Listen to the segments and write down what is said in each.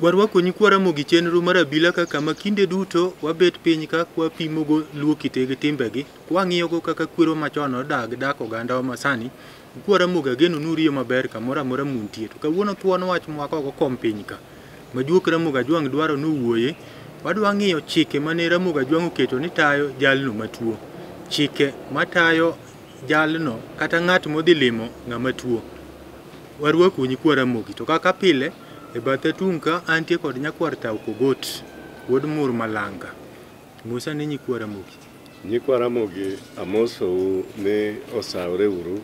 Warwako nyikwa Ramogi chenro mar abila kaka ma kinde duto wabet piny ka kwapimogo Luo kite gi timbegi, kwang'iyogo kaka kwero machon odag dak ogandawa masani. Nyikwa Ramogi agenonu uriyo maber kamoro amora muntie, to kawuono thuon wach mwako ogo kom piny ka. Majuok Ramogi Ajwang' dwaro nowuoye. Wadwa ng'iyo chike mane Ramogi Ajwang' oketo ni tayo jalno matuo. Chike matayo jalno kata ng'at modhi limo ng'ama tuo. Warwaku nyikwa Ramogi to kaka pile e batha tung' ka antie kod nyakwar Tao Pogot wuod Mur Malanga. Mos ane nyikwa Ramogi. Nyikwa Ramogi amosou ni osawore uru.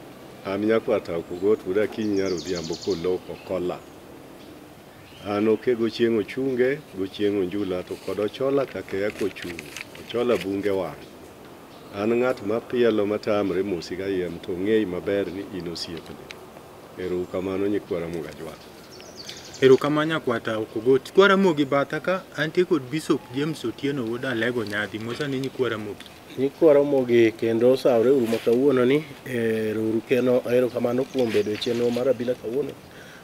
An nyakwar Tao Pogot wuod Akinyi Nyar Odhiambo koloko kola. An oke gochieng' ochunge, gochieng' onjula to kod ochola kakeya kochung', ochola bunge wang'. An ng'at mapielo matamre mosi kayiem to ng'eyi maber ni in osiepne. Ero ukamano nyikwa Ramogi Ajwang'. Erokamano nyakwar Tao Kogoti. Kwa Ramogi batha ka antie kod Bishop James Otieno wuod Alego Nyadhi. Mos ane nyikwa Ramogi. Nyikwa Ramogi kendo sawre uru ma kawuono ni. Ero uru keno, erokamano kuom bedo e chenro mar Abila kawuono.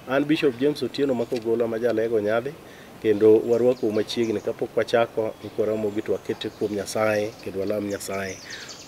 An Bishop James Otieno ma Kogola ma jalego nyadhi kendo warwakou machiegni kapok wachako iko Ramogi to wakete kuom Nyasaye kendo walam Nyasaye.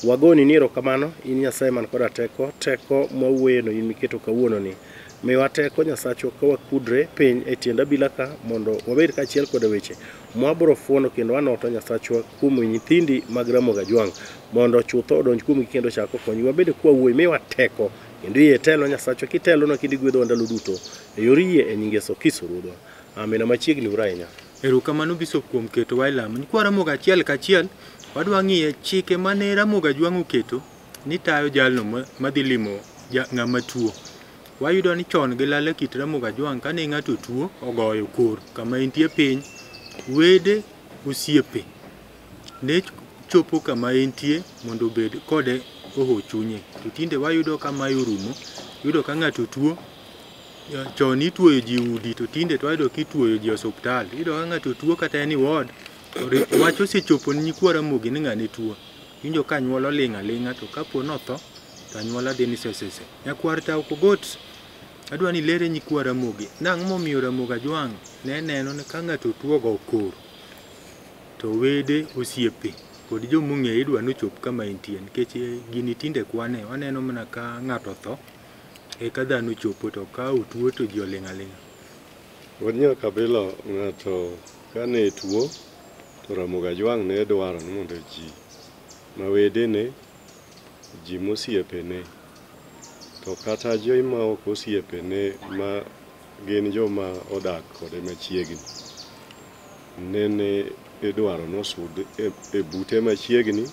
Wagoni ni erokamano in Nyasaye man koda teko, teko mwawuoyeno in miketo kawuononi. Miwa teko Nyasachwa ka wakudre piny e tiend abila ka mondo wabed kaachiel koda weche mwabro fuono kendo wanoto Nyasachwa kuom nyithindi mag Ramogi Ajwang' mondo chutho odonj kuomgi kendo ochak okonygi. Wabende kwawuoyi miwa teko Kendo yie telo Nyasachwa kitelonwa kendo igwedhowa ndalo duto e yor yie e nying Yesu Kristo Ruodhwa. Amina machiegni uru ahinya. Erokamano Bishop kuom keto wa e lamo. Nyikwa Ramogi achiel kachiel wadwa ng'iye chike mane Ramogi Ajwang' oketo ni tayo jalno ma- madhi limo ja- ng'ama tuo. Wayudo ni chon gi lala kit Ramogi Ajwang' kane ng'ato tuo ogoyo kor kama entie piny, wede, osiepe Ne chopo kama entie mondo obed kode oho chunye. To tinde wayudo ka mae orumo, yudo ka ng'ato tuo, eh, chon ituoyo ji udi to tinde to wayudo ka ituoyo ji osuptal. Iyudo ka ng'ato tuo kata en i ward, to ri- wach osechopo ne nyikwa Ramogi ni ng'ane tuo. Iwinjo ka anyuola oling' aling'a to kapo ni otho to anyuola dhi ni sesese. Nyakwar Tao Kogot, adwa ni ilere nyikwa Ramogi, nang'o momiyo Ramogi Ajwang' ne neno ni ka ng'ato tuo go okor? To wede, osiepe, kod joma ong'eyo idwa ni ochop kama entie nikech gini tinde kwane waneno mana ka ng'ato otho eka dhano chopo to ka otuo to ji oling' aling'a. Wuod Nyakabila ng'ato kane tuo to Ramogi Ajwang' ne dwaro ni mondo ji ma wedene, ji mosiepene to kata joma ok osiepene ma gin joma odak kode machiegni nene idwaro nosud e- e bute machiegni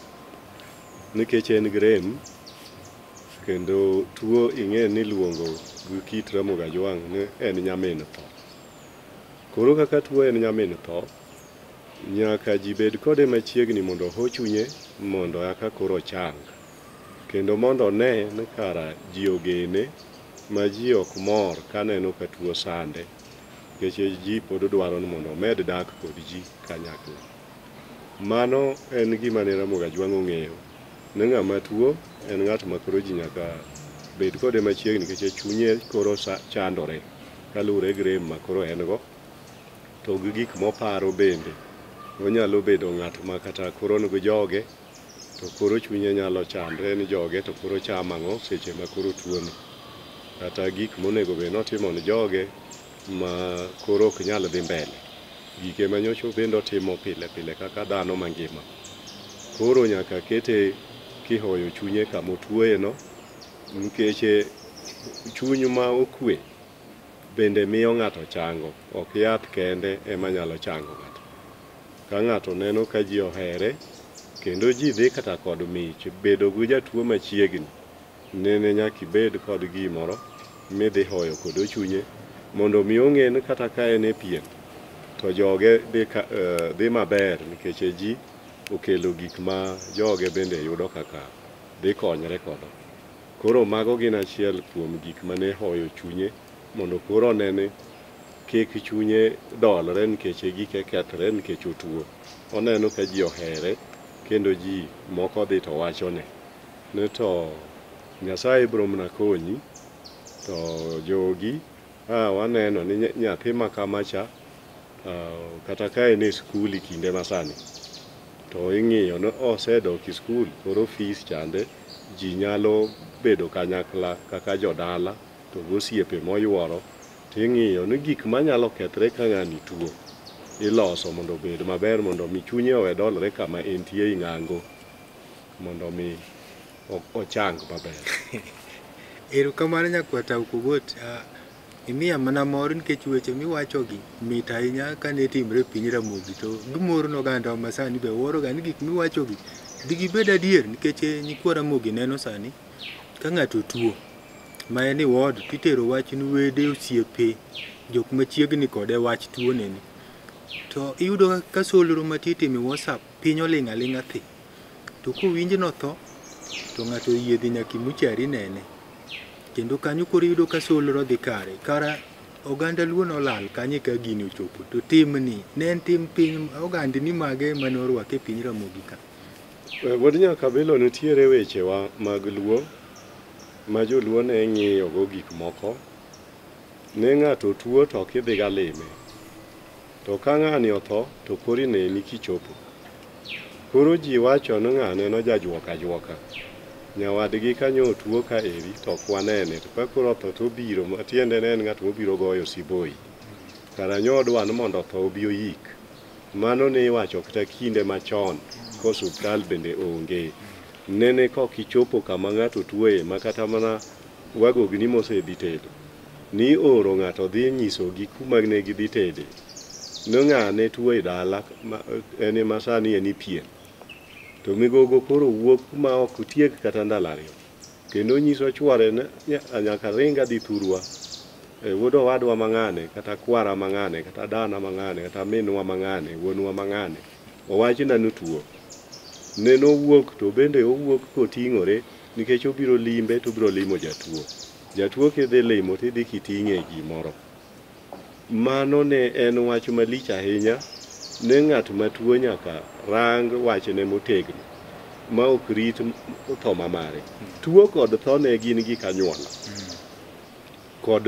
nikech en gi rem kendo tuo ing'e ni luongo gi kit Ramogi Ajwang' ni en nyamin tho. Koro kaka tuo en nyamin tho, nyaka ji bed kode machiegni mondo oho chunye mondo aka koro ochang. kendo mondo one ni kara ji ogene ma ji ok mor kaneno ka tuo sande nikech ji pod dwaro ni mondo omed dak kod ji kanyakla. Mano en gima ne Ramogi Ajwang' ong'eyo ni ng'ama tuo en ng'at ma koro ji nyaka bed kode machiegni nikech chunye koro chandore kaluwore gi rem ma koro en go to gi gik moparo bende. Onyalo bedo ng'at ma kata koro en gi joge to koro chunye nyalo chandre ni joge to koro chama ang'o seche ma koro tuoni kata gik monego bed notimo ni joge ma koro ok nyal dhi mbele gike ma nyocha obende otimo pile pile kaka dhano mangima koro nyaka kete kihoyo chunye kama otuoyeno nikech chuny ma okwe bende miyo ng'ato chango ok yath kende ema nyalo chango ng'ato Ka ng'ato neno ka ji ohere kendo ji dhi kata kod mich, bedo gi jatuo machiegni nene nyaka ibed kod gimoro midhi hoyo kodo chunye mondo mi ong'eni kata ka en e pien to joge dhi maber nikech e ji okelo gik ma joge bende yudo kaka dhi konyre kodo. Koro mago gin achiel kuom gik mane hoyo chunye mondo koro oneni kik chunye dolre nikech gike kethre nikech otuo. Oneno ka ji ohere kendo ji moko dhi to wachone ni to Nyasaye biro mana konyi to jogi a waneno ni ny- nyathi ma kama cha ah, kata ka en e skul e kinde masani to ing'iyo ni osedok e skul koro fis chande ji nyalo bedo kanyakla kaka jodala to gosiepe moyuoro To ing'iyo ni gik manyalo kethre ka ng'ani tuo iloso mondo obed maber mondo mi chunye owe dolore kama entie ei ng'ango mondo mi o- ochang maber. Erokamano nyakwata Tau Kogot. Ah, Imiya mana mor nikech weche miwachogi mit ahinya kane timre e piny Ramogi to gimoro noganda ma sani be wuoroga ni gik miwachogi digibed adier nikech eh, nyikwa Ramogi neno sani Ka ng'ato tuo ma en e ward to itero wach ne wede, osiepe, jok machiegni kode wach tuoneni. To iyudo ka solro ma ti itimo e WhatsApp piny oling' aling'a thi. To kowinj ni otho to ng'ato oyie dhi nyaka e muchari nene. Kendo kanyo koro iyudo ka solro dhi kare. Kara oganda Luo ne olal kanyo eka gini ochopo. To timni ne en tim piny ogandni mage mane orwak e piny Ramogi ka. Eh, wuod Nyakabilo nitiere wechewa mag Luo ma joluo ne ng'iyogo gik moko. Ne ng'ato tuo to ok idhiga lime. To ka ng'ani otho to koro ineni kichopo. Koro ji wacho ni ng'ane nojajuok ajuoka. Nyawadgi kanyo otuo ka eri to ok wanene to ka koro otho to obiro matiende ne en ng'at mobiro goyo siboi. Kara nyodwa ni mondo otho obi oyik. Mano ne iwacho kata kinde machon kosuptal bende onge. Nene kok ichopo kama ng'ato tuoye makata mana wagogni mosedhi tedo. Ni oro ng'ato dhi nyisogi kuma ne gidhi tede. No ng'a ne tuo e dala en ema sani en ipien. To migogo koro wuok kuma ok tiek kata ndalo ariyo. Kendo onyiso chwore ni nyaka ring adhi thurwa. E, wuod owadwa mang'ane kata kwara mang'ane kata dana mang'ane kata minwa mang'ane wuonwa mang'ane owachna notuo ne nowuok to bende owuok koting'ore nikech obiro limbe to obiro limo jatuo jatuo kidhi limo tidhi kiting'e gimoro Mano ne en wach malich ahinya ne ng'at matuo nyaka rang wachne motegno ma ok rit tho ma mare. Tuo kod tho ne gin gik anyuola kod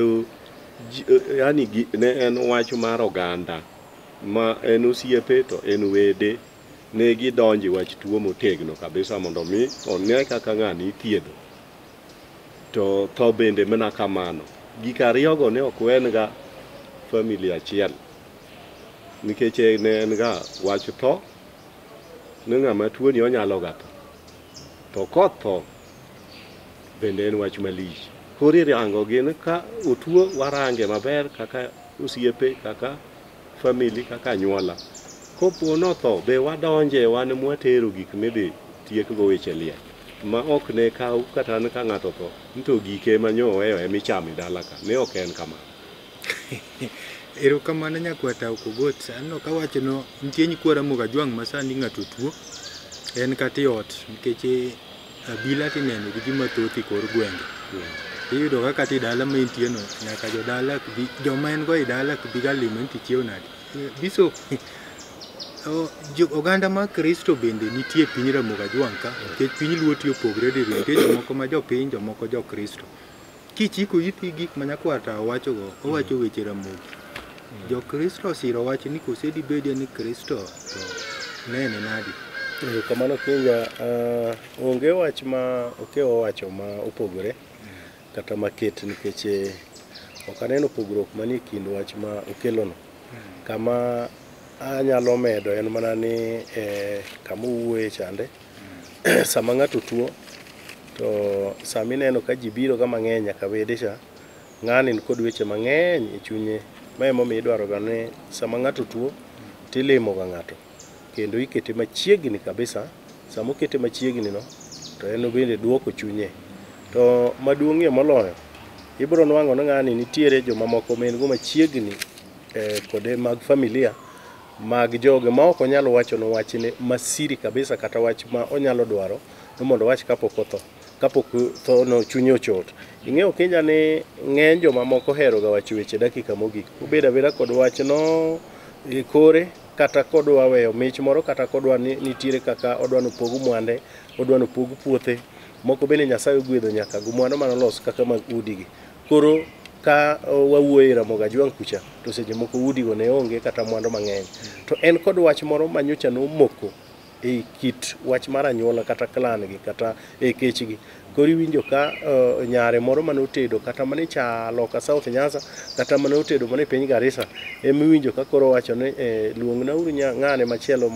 ji- eh, yani gi- ne en wach mar oganda ma en osiepe to en wede ne gidonje wach tuo motegno kabisa mondo mi one kaka ng'ani ithiedho. to tho bende mana kamano. Gik ariyogo ne ok wenga famili achiel nikech ne en ga wach tho ni ng'ama tuoni onyalo ga tho to kotho bende en wach malich koro irangogi ni ka otuo warange maber kaka osiepe kaka family kaka anyuola kopo notho be wadonje wan mwatero gik midhi tiekgo weche liel ma ok ne kaw kata an ka ng'ato tho nto gike manyo oweyo ema ichamo e dala ka ne ok en kamano erokamano nyakwata ok ogot anno kawacho no nitie nyikwa ramogi ajwang' ma sani ng'ato tuo en kata e ot nikech Kabila tineno gi ji mathoth e kor gwenge. Iyudo ka kata e dala ma intie no, nyaka jodala ok bi, joma en go e dala ok bi ga limo ni tichiew nade. Eh, Bishop, o- jo- oganda ma Kristo bende nitie e piny Ramogi Ajwang' ka, nikech piny Luo ti opogre diriyo, nitie jomoko ma jopiny, jomoko jo Kristo. Kichiko iti gik ma nyakwar tawo wachogo, owacho weche ramogi. Jo-Kristo osiro wach ni kose dibedie ni Kristo to nene nadi? Eh, Kamano Kinja, ah, onge wach ma Okewa owacho ma opogore kata maket nikech eh, ok aneno pogruok manie kind wach ma okelono. Kama anyalo medo en mana ni eh, kama owuoye chande sama ng'ato tuo to sama ineno ka ji biro ga mang'eny nyaka wede cha ng'ani ni kod weche mang'eny e chunye ma emomiyo idwaroga ni sama ng'ato tuo tilimoga ng'ato kendo ikete machiegni kabisa sama okete machiegni no to en bende duoko chunye to maduong'ie moloyo ibiro nwang'o ni ng'ani nitiere jomamoko ma en go machiegni eh, kode mag familia mag joge ma ok onyal wacho no wach ne masiri kabisa kata wach ma onyalo dwaro no mondo wach kapok otho kapok tho no chunye ochot ing'eyo kinja ni ng'eny joma moko hero ga wacho weche dakika mogik ubed abeda kod wach no e kore kata kodwa weyo mich moro kata kodwa ni nitiere kaka odwa no pog mwande odwa no pog puothe moko bende nyasaye ogwedho nyaka gu mwando manolos kaka mag udigi Koro ka wawuoye Ramogi Ajwang' kucha to seche moko udigo ne onge kata mwandu mang'eny. To en kod wach moro ma nyocha nomoko e kit wach mar anyuola kata clan gi kata e kechgi. Koro iwinjo ka uh, nyare moro mane otedo kata mane cha loka South Nyanza kata mane otedo mane piny Garissa ema iwinjo ka koro wacho ni eh, luongna uru ng'ane machielo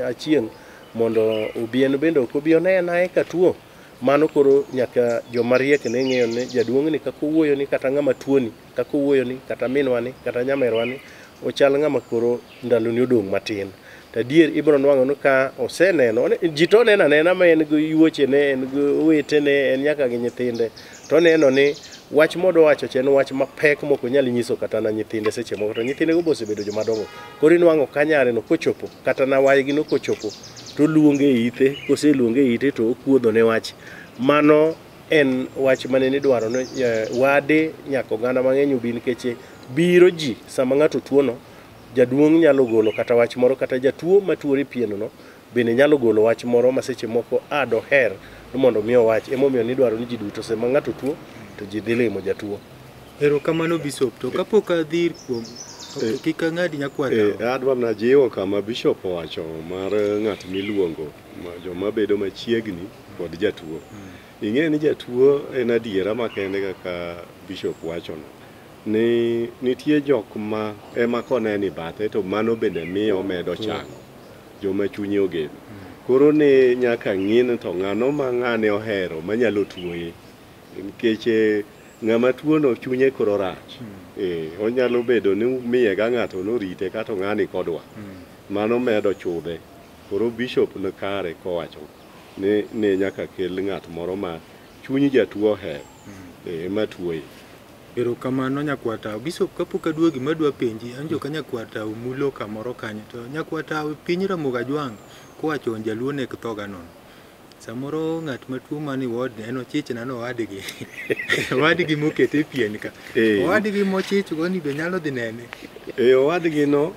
achieng' mondo obi en bende ok obi onena eka tuo Mano koro nyaka joma riek ne ng'eyo ni jaduong'ni kaka owuoyoni kata ng'ama tuoni kaka owuoyoni kata minwani kata nyamerwani ochal ng'ama koro ndaloni odong' matin. To adier ibiro nwang'o ni ka oseneno, one- ji to oneno anena ma en gi yuochene, en gi owetene, en nyaka gi nyithinde. To oneno ni wach modwa wacho cha en wach mapek mok onyal nyiso kata na nyithinde seche moko. To nyithindego be osebedo joma dongo. Koro inwang'o ka nyareno kochopo kata na wayigino kochopo to oluonge e ithe koseluonge e ite to okuodho ne wach mano en wach mane ni dwaro ni eh, wade nyaka oganda mang'eny obi nikech eh, biro ji sama ng'ato tuono jaduong' nyalo golo kata wach moro kata jatuo matuore pienono bende nyalo golo wach moro ma seche moko a doher ni mondo mi owach emomiyo ni dwaro ni ji duto sama ng'ato tuo to ji dhi limo jatuo Erokamano Bishop, to kapok adhi ir kuom okay, eh, kik ang'adi nyakwar. Eh, adwa mana jiwo kama Bishop owacho mar ng'at miluongo joma bedo machiegni kod jatuo. Hmm. Ing'e ni jatuo en adiera makende kaka Bishop wachono ni nitie jok ma ema koneni bathe to mano bende miyo omedo hmm. chango joma chunye ogeno. Hmm. Koro ni nyaka ng'in to ng'ano ma ng'ane ohero manyalo tuoye. Nikech eh, ng'ama tuono chunye koro rach. Eh, onyalo bedo ni umiye ga ng'ato norite kato ng'ani kodwa. Mano medo chudhe. Koro bishop ni kare kowacho ni, ni nyaka kel ng'at moro ma chuny jatuo ohero eh, ema tuoye. Erokamano nyakwar Tao. Bishop kapok aduogi ma dwa penji, an joka nyakwar Tao mulo kamoro kanyo to nyakwar Tao piny Ramogi Ajwang' kowacho ni jaluo nek thoga nono. Samoro ng'at matuo man e ward en ochichna ni owadgi. owadgi moket e pien ka. Eh. Owadgi mochichgo ni be nyalo dhi nene. E owadgi no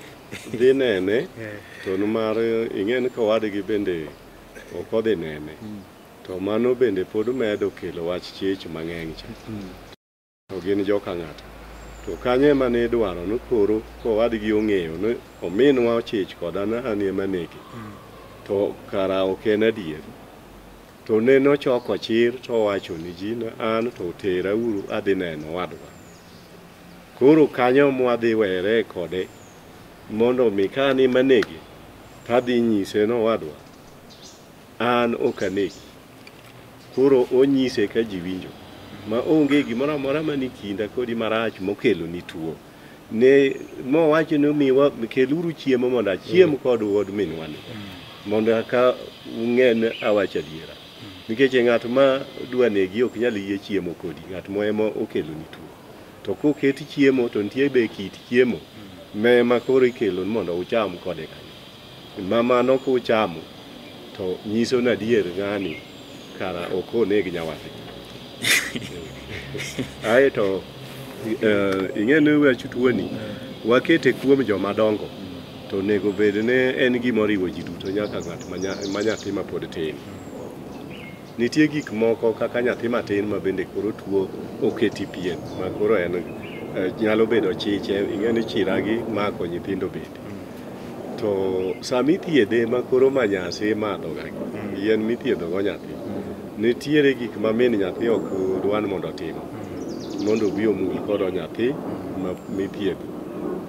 dhi nene eh. to nimar ing'en ka owadgi bende ok odhi nene. Hmm. To mano bende pod medo kelo wach chich mang'eny cha. Hmm. To gin joka ng'ato. To kanyo ema ne idwaro ni koro kowadgi ong'eyo ni ominwa ochich koda na an ema nege. To kara ok en adier. To ne nochoko chir to owacho ni ji ni an to tera uru adhi neno owadwa. Koro kanyo mwadhi were kode mondo mi ka an ema nege tadhi nyise ni owadwa. An ok anegi. Koro onyise ka ji winjo. Ma onge gimoro amora mani kinda kodi marach mokelo ni tuo. Ne mowacho ni miwa keluru chiemo mondo achiem mm. kod wuod minwa ni. Mm. Mondo aka ung'e ni awacho adiera. Mm. Nikech ng'at ma dwa negi ok nyal yie chiemo kodi, ng'at mo ema okelo ni tuo. To koket chiemo to nitie be kit chiemo me ma koro ikelo mondo ucham kode kanyo. Ma mano kuchamo to nyiso na adier ng'ani kara ok oneg nyawadgi. Ae to eh, ing'e ni wach tuoni wakete kuom joma dongo to onego bed ni en gima oriwo ji duto nyaka ng'at ma nya- ma nyathi ma pod tin. Nitie gik moko kaka nyathi matin ma bende koro tuo oketi pien ma koro en eh, nyalo bedo chiche ing'e ni chiragi mako nyithindo bende. to sama ithiedhe ma koro manyasi imadhoga yien mithiedhogo nyathi nitiere gik ma min nyathi ok dwa ni mondo otim mondo obi omul kodo nyathi ma- mithiedho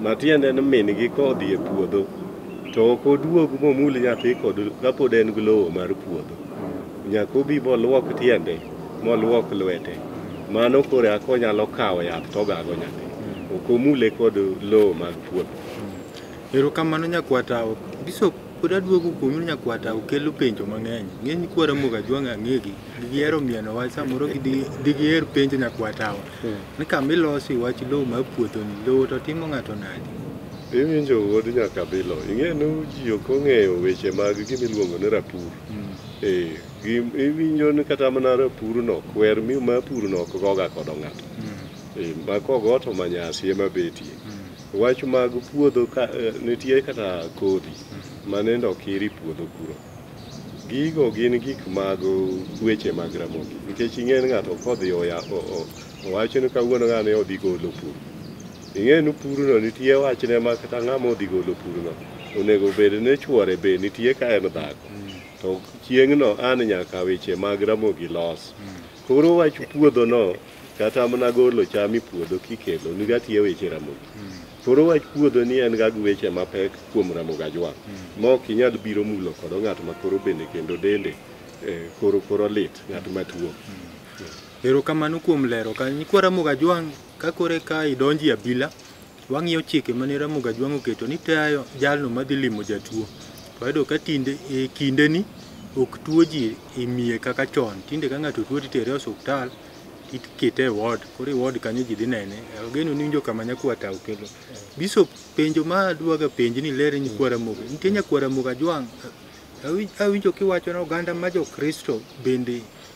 matiende ni min gi kodhi e puodho to ok oduog momul nyathi kod kapod en gi lowo mar puodho nyaka obi moluok tiende moluok lwete mano koro aka onyalo kawo yath togago nyathi ok omule kod lowo mag puodho Erokamano nyakwata biso pod aduogo kuomi ni nyakwata okelo penjo mang'eny ng'eny kwa ramoga jwang' ang'egi gihero mienowa samoro gidi- digiher penjo nyakwatawa ni kama ilosi wach lowo mar puodhoni lowo to timo ng'ato nadi Iwinjo wuod Nyakabilo, ing'e ni ji ok ong'eyo weche mag gima iluongo ni rapur. Eh, gim- iwinjo ni kata mana rapurno, kwer mi mapurno ok goga kodo ng'ato. Eh, ma kogo to manyasi ema betie. Wach mag puodho ka, eh, nitie kata kodhi ma nende okiri puodho kuro. Gigo gin gik mag weche mag Ramogi nikech ing'eyo ni ng'ato kodhi oya o- o- owacho ni kawuono ng'ano ne odhi golo pur. Ing'eyo ni purno nitie wachne ma kata ng'ama odhi golo purno onego obed ni chwore be nitie ka en dhako. To chieng'no an nyaka weche mag Ramogi los. Koro wach puodho no kata mana golo cham e puodho kikelo ni gatiye weche ramogi. Koro wach puodho ni en ga gi weche mapek kuom ramogi ajwang'. Ma ok inyal biro mulo kodo ng'at ma koro bende kendo dende eh, koro koro lit ng'at matuo. Erokamano kuom lero ka nyikwa Ramogi Ajwang' ka kore ka idonjo e abila Wang'iyo chike mane Ramogi Ajwang' oketo ni tayo jalno madhi limo jatuo. To wayudo ka tinde e kindeni ok tuo ji e miye kaka chon. Tinde ka ng'ato tuo titere e osuptal tikete e ward. Koro e ward kanyo ji dhi nene. Ageno ni iwinjo kama nyakwa Tau kelo. Bishop, penjo ma adwaga penji ni iler ne nyikwa Ramogi. Nitie nyakwa Ramogi Ajwang', awi- awinjo kiwacho ni oganda ma jo Kristo bende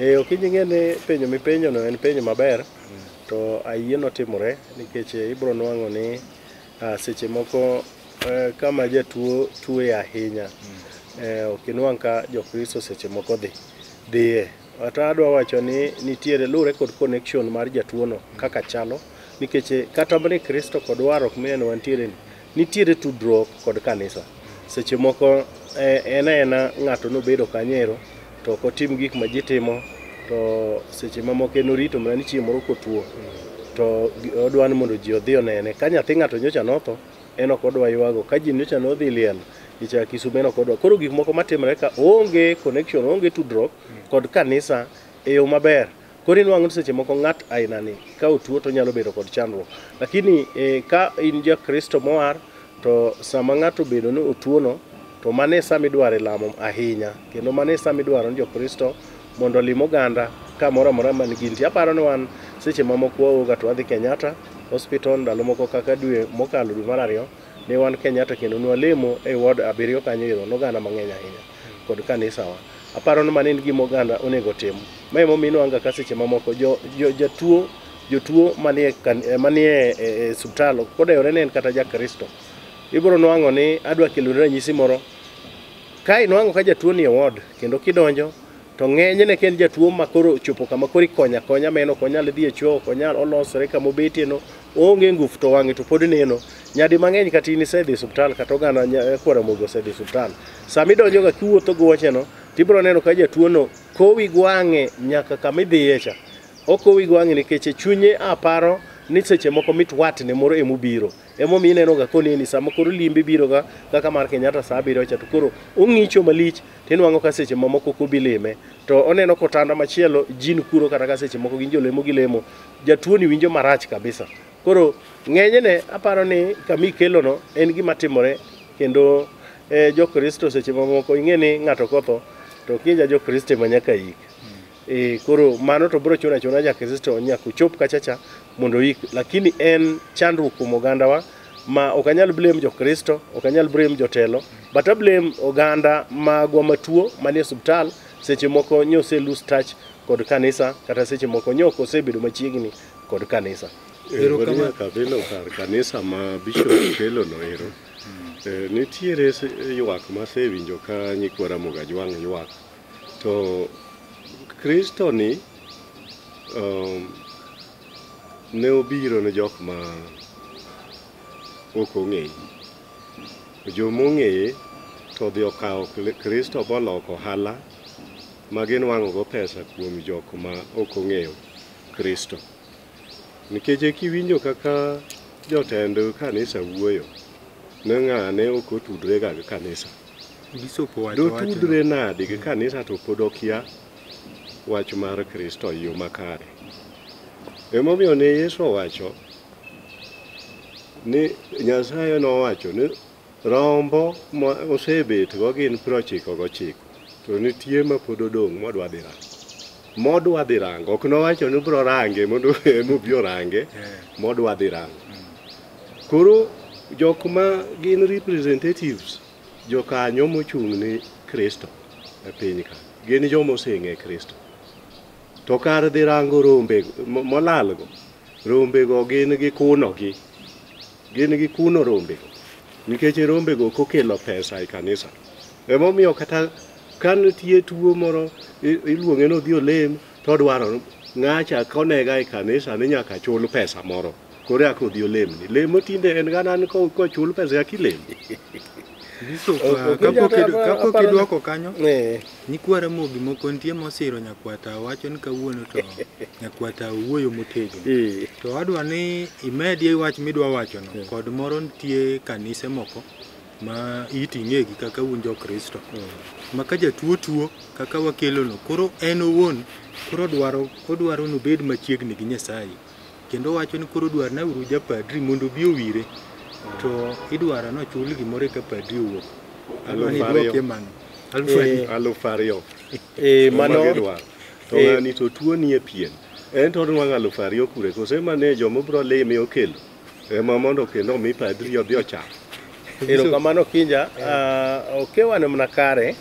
Eh, ok ing'e ni penjo mipenjono en penjo maber to ayie notimore nikech eh, ibiro nwang'o ni ah, seche moko eh, kama jatuo tuwe ahinya eh, ok inwang' ka jokristo seche moko dhi dhiye kata adwa wacho ni nitiere lure kod connection mar jatuono kaka chalo nikech eh, kata ni kristo kod warruok mineno wantiere ni Nitiere tudruok kod kanisa. Seche moko eh, en aena ng'ato nobedo kanyero to ok otim gik ma ji timo to seche mamoko en orito mana ni chieng' moro kotuo to gi- odwa ni mondo ji odhi onene. Ka nyathi ng'ato nyocha notho, en ok odwa ywago. Ka ji nyocha nodhi liel, nyicha Kisumo en ok odwa. Koro gik moko matimre ka onge connection, onge tudruok kod kanisa e yo maber. Koro inwang'o ni seche moko ng'at aina ni ka otuo to onyalo bedo kod chandruok. Lakini eh, ka in ja Kristo mowar to sama ng'ato obedo ni otuono to mano e sama idwaro e lamo ahinya kendo mano e sama idwaro ni jo Kristo mondo olim oganda kamoro amora man gintie. Aparo ni wan seche mamoko waoga to wadhi Kenyatta hospital ndalo moko kaka dwe mokalo dwe mar ariyo ne wan Kenyatta kendo ne walemo e ward abiriyo kanyo ero noganda mang'eny ahinya. kod kanisawa. Aparo ni mano en gima oganda onego otim. Ma ema omiyo inwanga ka seche mamoko jo, jo, jatuo jotuo manie kan- eh, manie e, e, suptal ok odewore ni en kata jakristo. Ibiro nwang'o ni adwa kelo ranyisi moro ka inwang'o ka jatuo ni e ward kendo kidonjo to ng'enyne ka en jatuo ma koro ochopo kama koro ikonyo akonya ma en ok onyal dhi e choo ok onyal olosore kama obetieno oonge ngufu to wang'e to pod neno nyadi mang'eny kata in isedhi e suptal kata oganda nya- eh, kwara mogo osedhi e suptal Sama idonjoga kiwuotho gi wuocheno, to ibiro neno ka jatuono kowi gwang'e nyaka kama idhiye cha. Okowi gwang'e nikech e chunye a paro ni seche moko mit watne moro ema obiro. Emomiyo inenoga koneni sama koro limbe biroga kaka mar Kenyatta sa abiriyo cha to koro ong'icho malich to inwang'o ka seche mamoko ok obi lime. To oneno ka otanda machielo ji ni kuro kata ka seche moko gin jolemo gilemo. Jatuoni winjo marach kabisa. Koro ng'enyne aparo ni kama ikelono en gima timore kendo eh, jokristo seche mamoko ing'e ni ng'ato kotho to kinja jokristo ema nyaka yik e, koro mano to biro chuna chuna jakristo nyaka uchop kachacha mondo yik lakini en chandruok kuom ogandawa ma ok anyal blame jokristo ok anyal blame jotelo but ablame oganda magwa matuo manie osiptal seche moko nyoselus touch kod kanisa kata seche moko nyok osebedo machiegni kod kanisa. Erokamano Kavelo kar kanisa ma Bishop Kelo noero. Eh, Nitiere se- ywak masewinjo ka nyikwa Ramoga Jwang' ywak. To Kristo ni um, ne obiro ne jok ma ok ong'eye. Joma ong'eye to odhi okawo Kri- Kristo boloko ohala ma ginwang'ogo pesa kuom jok ma ok ong'eyo. Kristo. Nikech e kiwinjo kaka jotend kanisa wuoyo, ne ng'ane ok otudrega gi kanisa. Bishop owacho wachno. Dotudre nade gi kanisa to pod okia wach mar Kristo e yo makare. Emomiyo ne Yesu owacho ni Nyasaye nowacho ni Rombo ma osebetgo gin prochiko gochiko, to nitie ma pod odong' modwa dhi rango. Modwa dhi rango, ok nowacho ni ubiro range mondo ema obi orange, modwa dhi rango. Koro jok ma gin representatives, jokanyo mochung' ni Kristo e piny ka, gin joma oseng'e Kristo. To kar dhi rango rombe mo- molalgo, rombego gin gikunogi. Gin gi kuno rombe nikech rombego kokelo pesa e kanisa. Emomiyo kata ka nitie tuo moro i- iluonge ni odhi olem to odwaro ng'acha konega e kanisa ni nyaka chul pesa moro. Koro aka odhi olemni. Lemo tinde en gana ni ko- kochul pesa eka ilemo. Bishop, Ok, ah, ok. kapok idu- Aparo- kapok aparo- iduoko kanyo, Eh, nyikwa Ramogi moko nitie mosiro nyakwata wacho ni kawuono to nyakwata wuoyo motegno. eh, To adwa ni imedie wach midwa wachono kod moro nitie kanise moko ma iting'e gi kaka un jokristo ma ka jatuo tuo kaka wakelono koro en owuon koro dwaro odwaro nobed machiegni gi nyasaye kendo wacho ni koro dwarna uru japadri mondo obi owire to idwaro nochul gimoro eka padri owuok Aluf Ni ariyo. dwoke mano Aluf Eh, adi? aluf ariyo Eh, mano Mano gidwaro. to Eh. ng'ani to tuo nie pien en to odwang' aluf ariyo kure kose mane joma obro lime okelo Ema mondo kendo omi padri odhi ocham. Erokamano Kinja, ah, okewa ne mana kare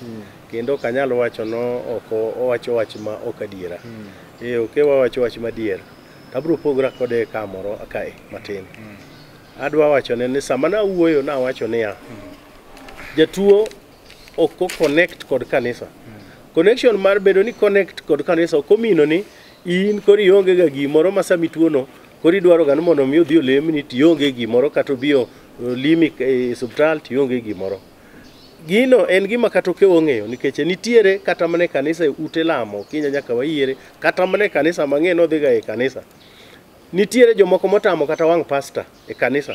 kendo ok anyal wacho no ok o- owacho wach ma ok adiera. Eh, okewa wacho wach madier. Abro pogra kode kamoro kae matin. Adwa wacho ne ni sama nawuoyo nawacho niya, jatuo ok o connect kod kanisa. Connection mar bedo ni connect kod kanisa ok omino ni in koro ionge ga gimoro ma sama ituono Koro idwaro gano mondo mi odhi olemni tionge gimoro kata obiyo eh, limi e eh, subtal tionge gimoro. Gino en gima kata oke ong'eyo nikech nitiere kata mane kanisa e ute lamo kinya nyaka wayiere kata mane kanisa mang'e nodhi ga e kanisa. Nitiere jomoko motamo kata wang' pasta e kanisa.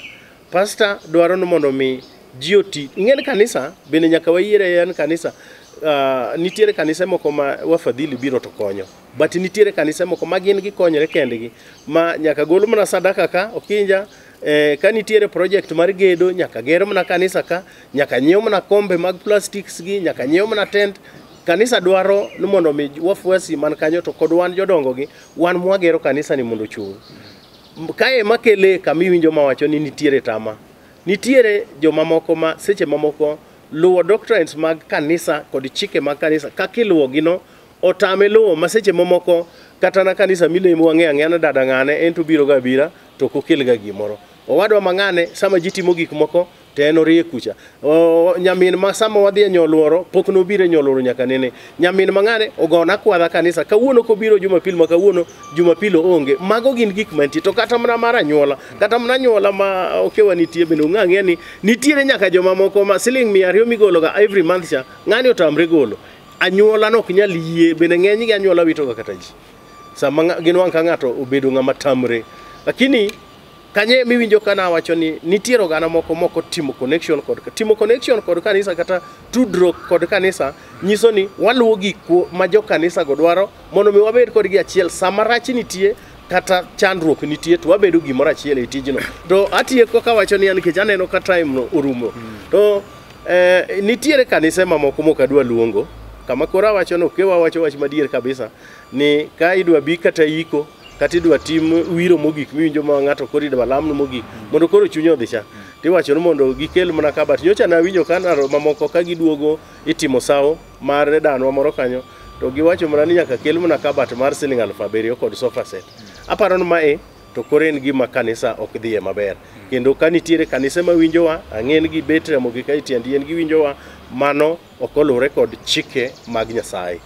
Pasta dwaro ni mondo mi ji oti. Ing'en kanisa bende nyaka wayiere en kanisa. Uh, nitiere kanise moko ma wafadhili biro to konyo. but nitiere kanise moko ma gin gikonyre kendgi ma nyaka gol mana sadaka ka okinja eh, ka nitiere project mar gedo nyaka ger mana kanisa ka nyaka nyiew mana kombe mag plastics gi nyaka nyiew mana tent kanisa dwaro ni mondo mi wafuasi man kanyo to kod wan jodongo gi wan mwagero kanisa ni mondo ochung kae makele kama iwinjo mawacho ni nitiere tama nitiere jomamoko ma seche mamoko luwo doctrines mag kanisa kod chike mag kanisa kaka iluwogino Otame luwo maseche momoko kata na kanisa milemo wang'e ang'e na dada ng'ane en to biro ga bira to kokel ga gimoro. Owadwa mang'ane sama ji timo gik moko to en orie kucha. O, nyamin ma sama wadhi e nyoluoro pok nobire nyoluoro nyaka nene. Nyamin mang'ane ogona kwadha kanisa kawuono kobiro jumapil ma kawuono jumapil onge. Mago gin gik mantie to kata mana mar anyuola kata mana anyuola ma okewa nitie bende ong'e ang'e ni nitiere nyaka jomamoko ma siling' mia ariyo migologa every month cha ng'ani otamre golo. Anyuola nok nyal yie, bende ng'eny gi anyuola witoga kata ji. Sama ng'a- gin wang' ka ng'ato obedo ng'ama tamre. Lakini kanye miwinjo ka nawacho ni nitiere oganda moko moko timo connection kod timo connection kod kanisa kata tudruok kod kanisa nyiso ni waluwo gik kuo- ma jo kanisa go dwaro mondo mi wabed kodgi achiel sama rach nitie kata chandruok nitie to wabedo gimoro achiel e tijno to atieko kawacho ni nikech aneno ka time no orumo to Eh, nitiere kanise mamoko mok adwa luongo kama koro awacho no kewa wacho wach madier kabisa ni ka idwa bi kata iko kata idwa tim wiro mogik miwinjo ma ng'ato koro idwa lamnu mogik mondo koro chunye odhi cha tiwacho ni mondo gikel mana kabat nyocha nawinjo ka naro mamoko ka giduogo itimo sawo mar danwa moro kanyo to giwacho mana ni nyaka kel mana kabat mar siling aluf abiriyo kod sofa set aparo ni mae to koro en gima kanisa ok dhiye maber kendo ka nitiere kanise ma winjowa ang'e ni gibet ramogi ka itiend yien giwinjowa mano ok oluwre kod chike mag nyasaye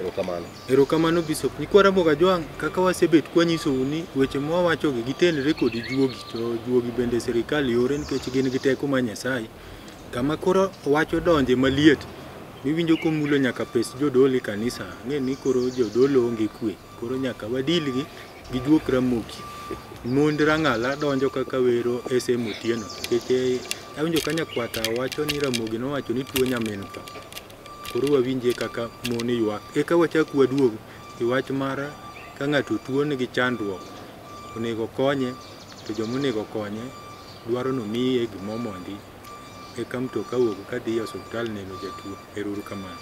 erokamano erokamano bishop nyikwa ramoga jwang' kaka wasebet kwanyisou ni weche mwawachogi gitenre kod juogi to juogi bende sirikal yore nikech gin gi teko ma nyasaye kama koro wacho donje maliet miwinjo komulo nyaka pes jodolo e kanisa ang'e ni koro jodolo onge kwe Koro nyaka wadil gi gi juok ramogi. Mond rang'ala donjo kaka wero SM Otieno nikech eh, awinjo ka nyakwata wacho ni Ramogi nowacho ni tuo nyamin tho. Koro wawinjie kaka mon ywak. Eka wachak waduog e wach mar ka ng'ato tuo nigi chandruok onego konye to joma onego konye dwaro ni omiye gima omondi eka mtoka wuog kadhi e osiptal neno jatuo. Ero uru kamano.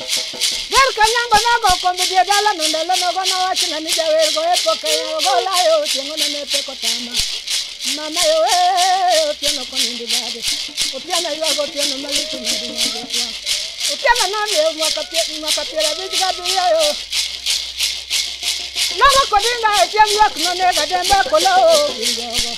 Ger kanyambo nogo kombe die dala no ndalo nogo nawach na ni jawer go e poke ogola yo tiengo na ne peko tama. Mama yo e otieno konindi bade. Otieno yuago otieno malitu na di nyago kwa. Otieno na mi yo mwaka pie mwaka pie la bijiga biya yo. Nogo kodinga e tiengo yak no nega dembe kolo o bingogo.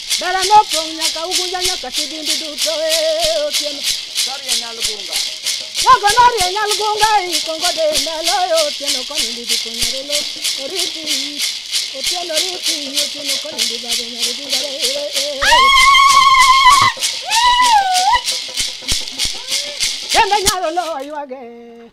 Dala no pong nyaka ugunja nyaka sidindi duto e otieno. Sari ya nyal gunga. Yako nori ya nyal gunga e kongo de ndalo e otieno koni ndidi kunyare lo. Oriti otieno riti otieno koni ndidi bago nyare gunga re re e. Kende nyaro lo ayuage.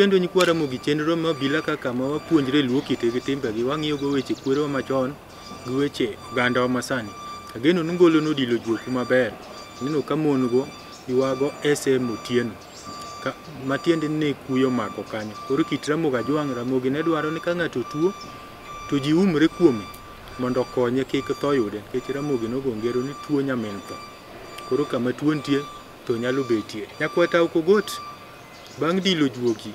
kendo nyikwa Ramogi chenro ma bila kaka ma wapuonjre luo kite gi timbegi, wang'iyogo weche kwerewa machon gi weche ogandawa masani. Ageno ni ngolo nodilo juoku maber. Aneno ka mon go ywago SM Otieno. Ka, matiende ni kuyo mako kanyo. Koro kit Ramogi Ajwang', Ramogi ne dwaro ni ka ng'ato tuo to ji umre kuome mondo okonye kik tho yude. Nikech Ramogi nogo ngero ni tuo nyamin tho. Koro kama tuo nitie to nyalo betie. Nyakwar Tauko Ogot bang' dilo juogi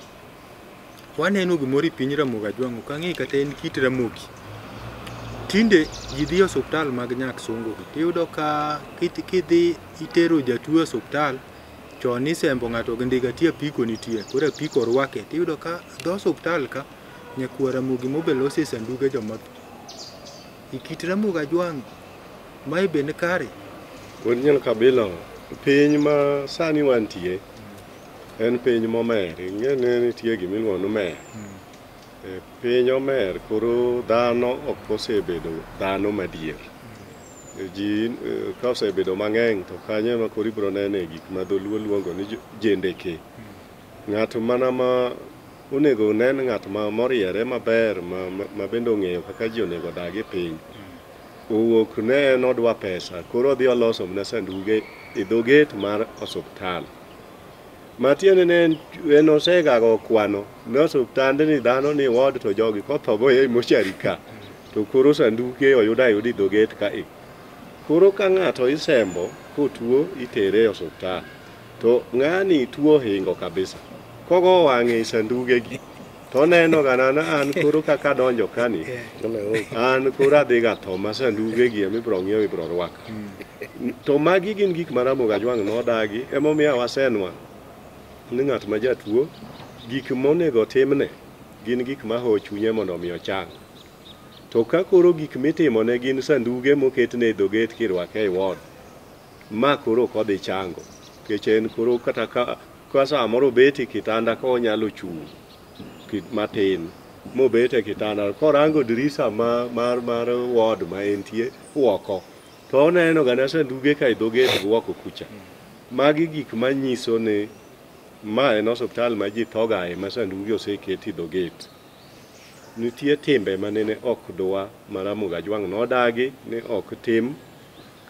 Waneno gimoro e piny Ramogi Ajwang' ok ang'e kata en kit Ramogi. Tinde ji dhi e osuptal mag nyak songo gi tiyudo ka kit- kidhi itero jatuo e osuptal chon isembo ng'ato gi ndiga ti apiko nitie koro apiko orwake tiyudo ka dho osuptal ka nyakwar Ramogi mobelosi e sanduge joma tho. I kit Ramogi Ajwang' mae be ni kare? Original Kabila, piny ma sani wantie en piny momer. Ing'e ni nitie gima iluongo ni mer. E, Piny omer koro dhano ok osebedo dhano madier. E, Ji e, ka osebedo mang'eny to kanyo ema koro ibiro nene gik ma dholuo luongo ni jo- jendeke. Ng'ato mana ma onego unen ng'at ma moriere maber ma, ma, ma bende ong'eyo kaka ji onego odag e piny. Owuok ne en odwa pesa, koro odhi oloso mana sanduge e dho gate mar osiptal. Matiende ne en, en osegago kwano ni osiptande ni dhano ni ward to jogi kotho boye e mochari ka. To koro sanduke oyudo ayuda e dho gate ka e. Koro ka ng'ato isembo kotuo itere e osiptal. To ng'ani tuo ohingo kabisa. Kogo wang'e e sandugegi. To neno ga nana an koro kaka donjo kani. An koro adhi ga tho ma sandugegi ema ibiro ng'iew ibiro rwak. To magi gin gik ma Ramogi Ajwang' nodagi emomiyo wasenwa ni ng'at ma jatuo gik monego timne gin gik ma ho chunye mondo omi ochang. To ka koro gik mitimone gin sanduge moketne e dho gate kirwake e ward, Ma koro ok odhi chango nikech en koro kata ka ka samoro obet e kitanda ka onyalo chung' kit matin mobet e kitanda korango dirisa ma, mar, mar ward ma entie oko to oneno gana sanduge ka idho gate oko kucha. Magi gik manyiso ni ma en osiptal ma ji thogae ma sanduge oseket idho gate. Nitie timbe ma nene ok dwa ma Ramogi Ajwang' nodagi ni ok tim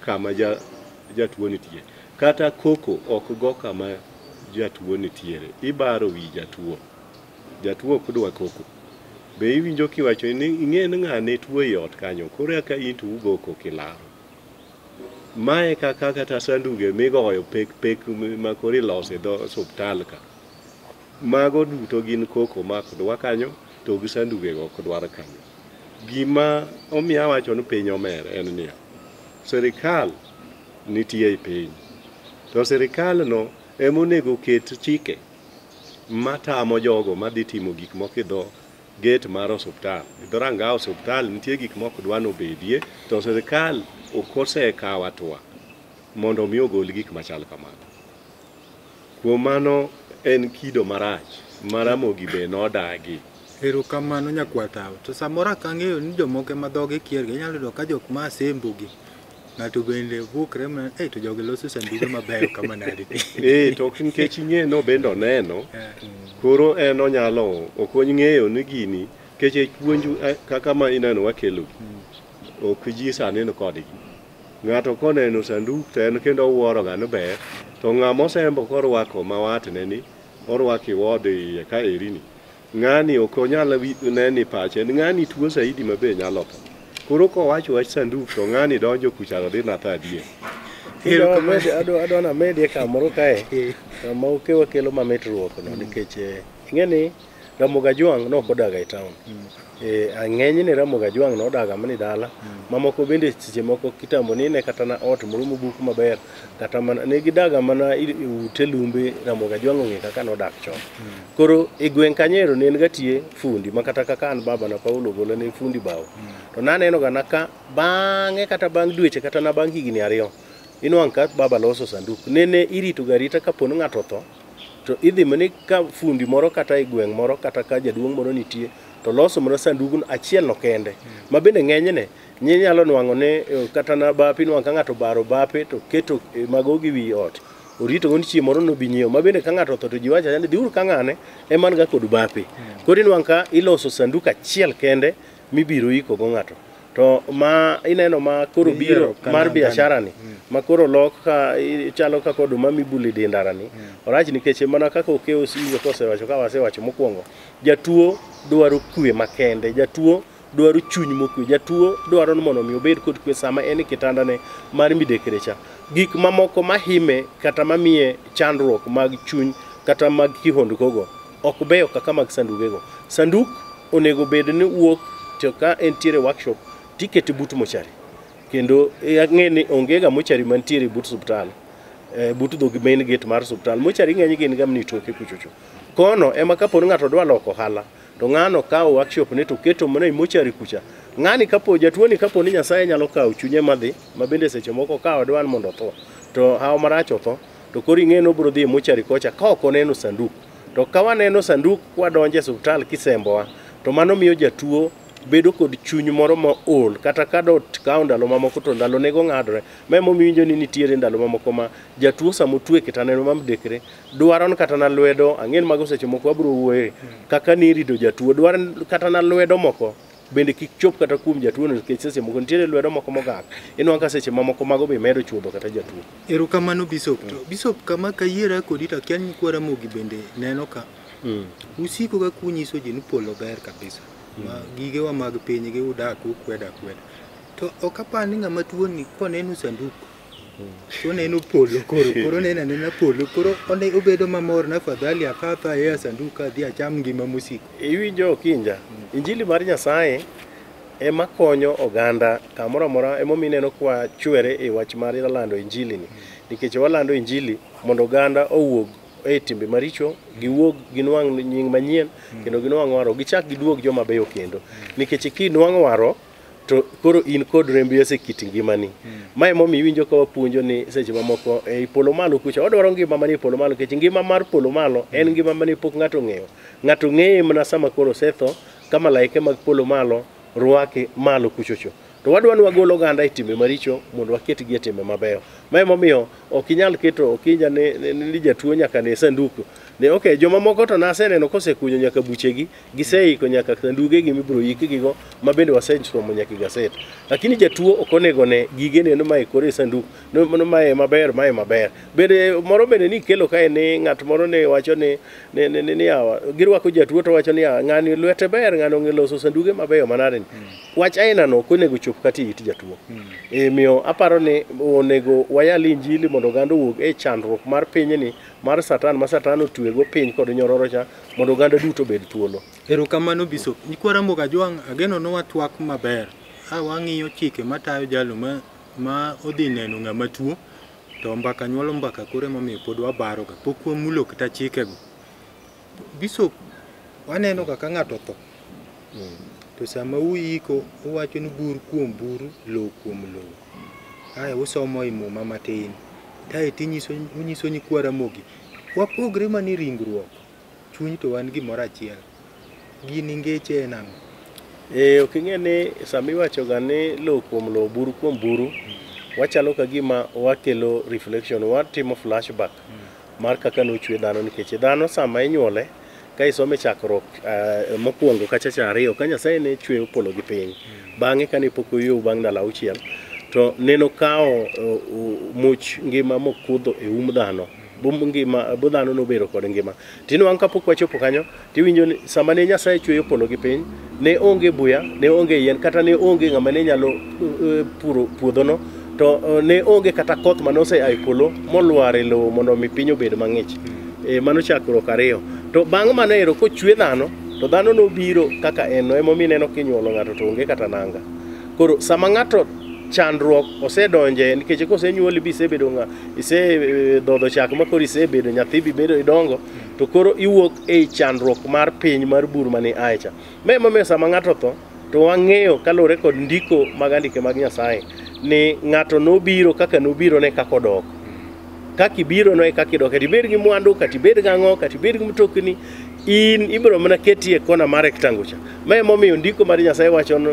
kama ja jatuo nitie kata koko ok go kama jatuo nitiere ibaro wi jatuo jatuo ok dwa koko be iwinjo kiwacho ni ing'e ni ng'ane tuo e ot kanyo koro eka in to ugo koko ilaro mae kaka kata sanduge migoyo pek pek ma koro iloso e dho osuptal ka Mago duto gin koko ma ok dwa kanyo, to gi sandugego ok dwar kanyo. Gima omiyo awacho ni piny omer en niya, sirikal nitie e piny, to sirikalno ema onego oket chike matamo jogo madhi timo gik moko e dho gate mar osuptal. E dho ranga osuptal nitie gik ma ok dwa ni obedie, to sirikal ok osekawo hatua mondo omi ogol gik machal kamago. Kuom mano en kido marach ma Ramogi be nodagi. Erokamano nyakwar tawa. To samoro ok ang'eyo ni jomoko ema dhogi kierga. Inyalo yudo ka jok ma asembogi ng'ato bende bukre ma eh to jogi loso sanduge mabeyo kama nade. Eh to ok nikech ing'e no bende oneno. Eh, Koro en onyalo ok ong'eyo ni gini nikech puonj eh, kaka ma ineno wakelogi ok ji sani ni kodgi. Ng'ato koneno sanduk to en kendo owuoroga ni ber, to ng'ama osembo korwako ma watne ni orwako iwodho iye ka erini. Ng'ani ok onyal ne ni pache, ng'ani tuo saidi ma be nyalo tho. Koro kowacho wach sanduk to ng'ani donjo kucha dhi na tha adier. Adwa namedie kamoro kae, kama ukewa kelo mamit ruokno nikech ing'eni Ramogi Ajwang' ne ok odaga e town. Eh, a ng'enyne Ramogi Ajwang' ne odaga mana e dala. Mamoko bende seche moko kitambo nine kata na ot moro mobuk maber kata mana ne gidaga mana i- e ute lumbe Ramogi Ajwang' ong'e kaka nodak chon. Koro e gweng' kanyo ero ne en ga tie fundi ma kata kaka an baba na Paulo Ogola ne en fundi bao. To naneno ga na ka bang'e kata bang' dweche kata na bang' higni ariyo inwang' ka baba loso sanduk. Nene irito ga arita ka po ni ng'ato otho to idhi mane ka fundi moro kata e gweng' moro kata ka jaduong' moro nitie to loso mana sandugu achiel no kende ma bende ng'enyne nyinyalo nwang'o ne eh, kata na bapi nwang' ka ng'ato baro bape to keto eh, mago gi wi ot orito ni chieng' moro nobi nyiewo ma bende ka ng'ato otho to ji wacho ni dhiuru ka ng'ane eman ga kod bape koro inwang' ka iloso sanduk achiel kende mibiro ikogo ng'ato to ma ineno ma koro biro Iyiero mar kalangani. biashara ni ma koro lok ka i- chalo kaka oduma mibuli e dendara ni orach nikech mana kaka okewo singo kosewacho ka wasewacho mokwongo jatuo dwaro kwe makende jatuo dwaro chuny mokwe jatuo dwaro ni mondo mi obed kod kwe sama en e kitandane mar midekre cha gik mamoko mahime kata mamiye chandruok mag chuny kata mag kihondkogo ok beyo kaka mag sandugego. Sanduk onego bed ni wuok to ka entiere workshop tikete but mochari kendo e, ang'e ni onge ga mochari mantiere but subtal e, but dho main gate mar subtal mochari ng'eny gin ga mnitoke kuchocho kono ema kapo ni ng'ato dwa loko ohala to ng'ano kawo workshop ne to keto mana e mochari kucha ng'ani kapo jatuoni kapo ni nyasaye nyalo kawo chunye madhi ma bende seche moko kawo dwan mondo otho to hawo marach otho to koro ing'e ni obiro dhi e mochari kocha ka ok oneno sanduk to ka waneno sanduk kwadonjo e suptal kisembowa to mano miyo jatuo bedo kod chuny moro ma ol kata ka dot kawo ndalo mamoko to ndalo nego ng'adore ma ema omiwinjo ni nitiere ndalo mamoko ma jatuo sama otwe kata neno ma mdekre dwaro ni kata na lwedo ang'e ni mago seche moko wabiro wuoye kaka nirito jatuo dwaro ni kata na lwedo moko bende kik chop kata kuom jatuono nikech seche moko nitiere lwedo moko mogak inwang' ka seche mamoko mago be medo chuodho kata jatuo erokamano bishop to mm. bishop kama kayiera kodi to akia ni kwara mogi bende neno ka mm. usiko ka kunyiso ji ni polo ber kabisa mm. ma gigewa mag piny gi udak ukweda kweda to ok apar ni ng'ama tuoni koneno sanduku oneno polo koro koro oneno anena polo koro one obedo mamor na afadhali akatho aye e sanduk adhi acham ngima mosiko iwinjo okinja injili mar nyasaye ema konyo oganda kamoro amora emomiyo ineno kwa chwere e wach mar lando injili ni nikech walando injili mondo oganda owuog e timbe maricho giwuog ginwang' nying manyien kendo ginwang' waro gichak giduog joma beyo kendo nikech kinwang' waro to koro in kod rembi ose kit ngimani hmm. ma emomiyo iwinjo ka wapuonjo ni seche mamoko e polo malo kucha wadwaro ngima manie polo malo nikech ngima mar polo malo en hmm. ngima mane pok ng'ato ong'eyo ng'ato ng'eye mana sama koro osetho ka malaike mag polo malo rwake malo kuchocho to wadwa ni wagol oganda e timbe maricho mondo waketgi e timbe mabeyo ma emomiyo ok inyal keto okinja ni jatuo nyaka ne sanduku ni ok jomamoko to naseneno kosekunyo nyaka buchegi giseiko nyaka sandugegi mibiro yikgigo ma bende wasechomo nyaka gaset lakini jatuo ok onego ne gige neno mae kore sanduk mano mae maber mae maber bende moro bende ni kelo kae ni ng'at moro ne wacho ni ni ni ni yawa girwako jatuo to wacho ni yawa ng'ani lwete ber ng'ani ong'e loso sanduge mabeyo manade ni wach aina no ok onego chop kata e it jatuo e miyo aparo ni onego wayal injili mondo oganda owuog e chandruok mar pinyni mar satan ma satan otuego piny kod nyororo cha mondo oganda duto obed thuolo. Erokamano Bishop. Nyikwa Ramogi Ajwang' ageno nwa twak maber. Ka wang'iyo chike matayo jalo ma, ma odhi neno ng'ama tuo, to mbaka nyuolo mbaka koro emomiyo pod wabaroga. Pok wamulo kata chikego. Bishop, waneno kaka ng'ato tho. To sama uiko, uwacho ni bur kuom buru, lowo kuom lowo. Ae usomo i muma matin. Tae tinyiso, unyiso nyikwa Ramogi Wapogre mana e ringruok, chuny to wan gimoro achiel. Gini ngeche en ang'o? E, ok ing'e ni sama iwachoga ni lowo kuom lowo, buru kuom buru, wachalo ka gima wakelo reflection, watimo flashback mar kaka nochwe dhano nikech dhano sama inyuole ka isome chakruok uh, mokwongo kacha cha ariyo ka nyasaye ne chweyo polo gi piny bang'e kane pok oyweyo bang' ndalo auchiel to ne nokawo uh, much ngima mokudho e um dhano bo ngima bo dhano nobedo kod ngima tinwang' kapok wachopo kanyo tiwinjo ni sama ne nyasaye chweyo polo gi piny Ne onge buya, ne onge yien, kata ne onge ng'ama ne nyalo eh, puro puodhono, to eh, ne onge kata koth mane osea e polo molwar e lowo mondo omi piny obed mang'ich. Eh, Mano chakruok ariyo. To bang' mano ero kochwe dhano, to dhano nobiro kaka en, emomiyo ineno kinyuolo ng'ato to onge kata nanga. Koro sama ng'ato chandruok osedonje nikech kosenyuoli bi isebedo ng'a isedhodho chak ma koro isebedo nyathi bi bedo idongo to koro iwuok ei chandruok mar piny mar bur mane ae cha ma emomiyo sama ng'ato tho to wang'eyo kaluwore kod ndiko mag andike mag nyasaye ni ng'ato nobiro kaka nobiro ne kaka odok kaka ibiro no e kaka idok kata ibed gi mwandu kata ibed gi ang'o kata ibed gi mtokni in ibiro mana keti e kona mar rectangle cha ma emomiyo ndiko mar nyasaye wacho ni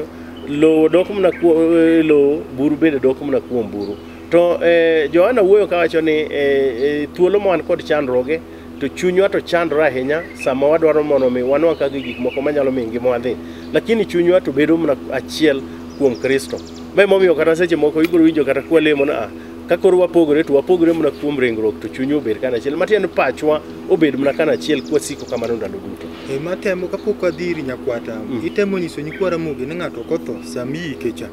lowo dok mana kuo- e, lowo buru bende dok mana kuom buru To eh, Johana wuoyo kawacho ni eh, eh, thuolo ma wan kod chandruoge to chunywa to chandore ahinya sama wadwaro mondo mi wanwang' kaka gik moko manyalo miyo ngimawa dhi lakini chunywa to bedo mana achiel kuom kristo ma emomiyo kata seche moko ibiro winjo kata kwalemo na "Ah, ka koro wapogore to wapogore mana kuom ringruok to chunywa obed kana achiel matiende ni pachwa obed mana kana achiel kwasiko kamano ndalo duto E ma temo kapok wadhi ir nyakwata, itemo nyiso nyikwa Ramogi ni ng'ato kotho sami ike cha.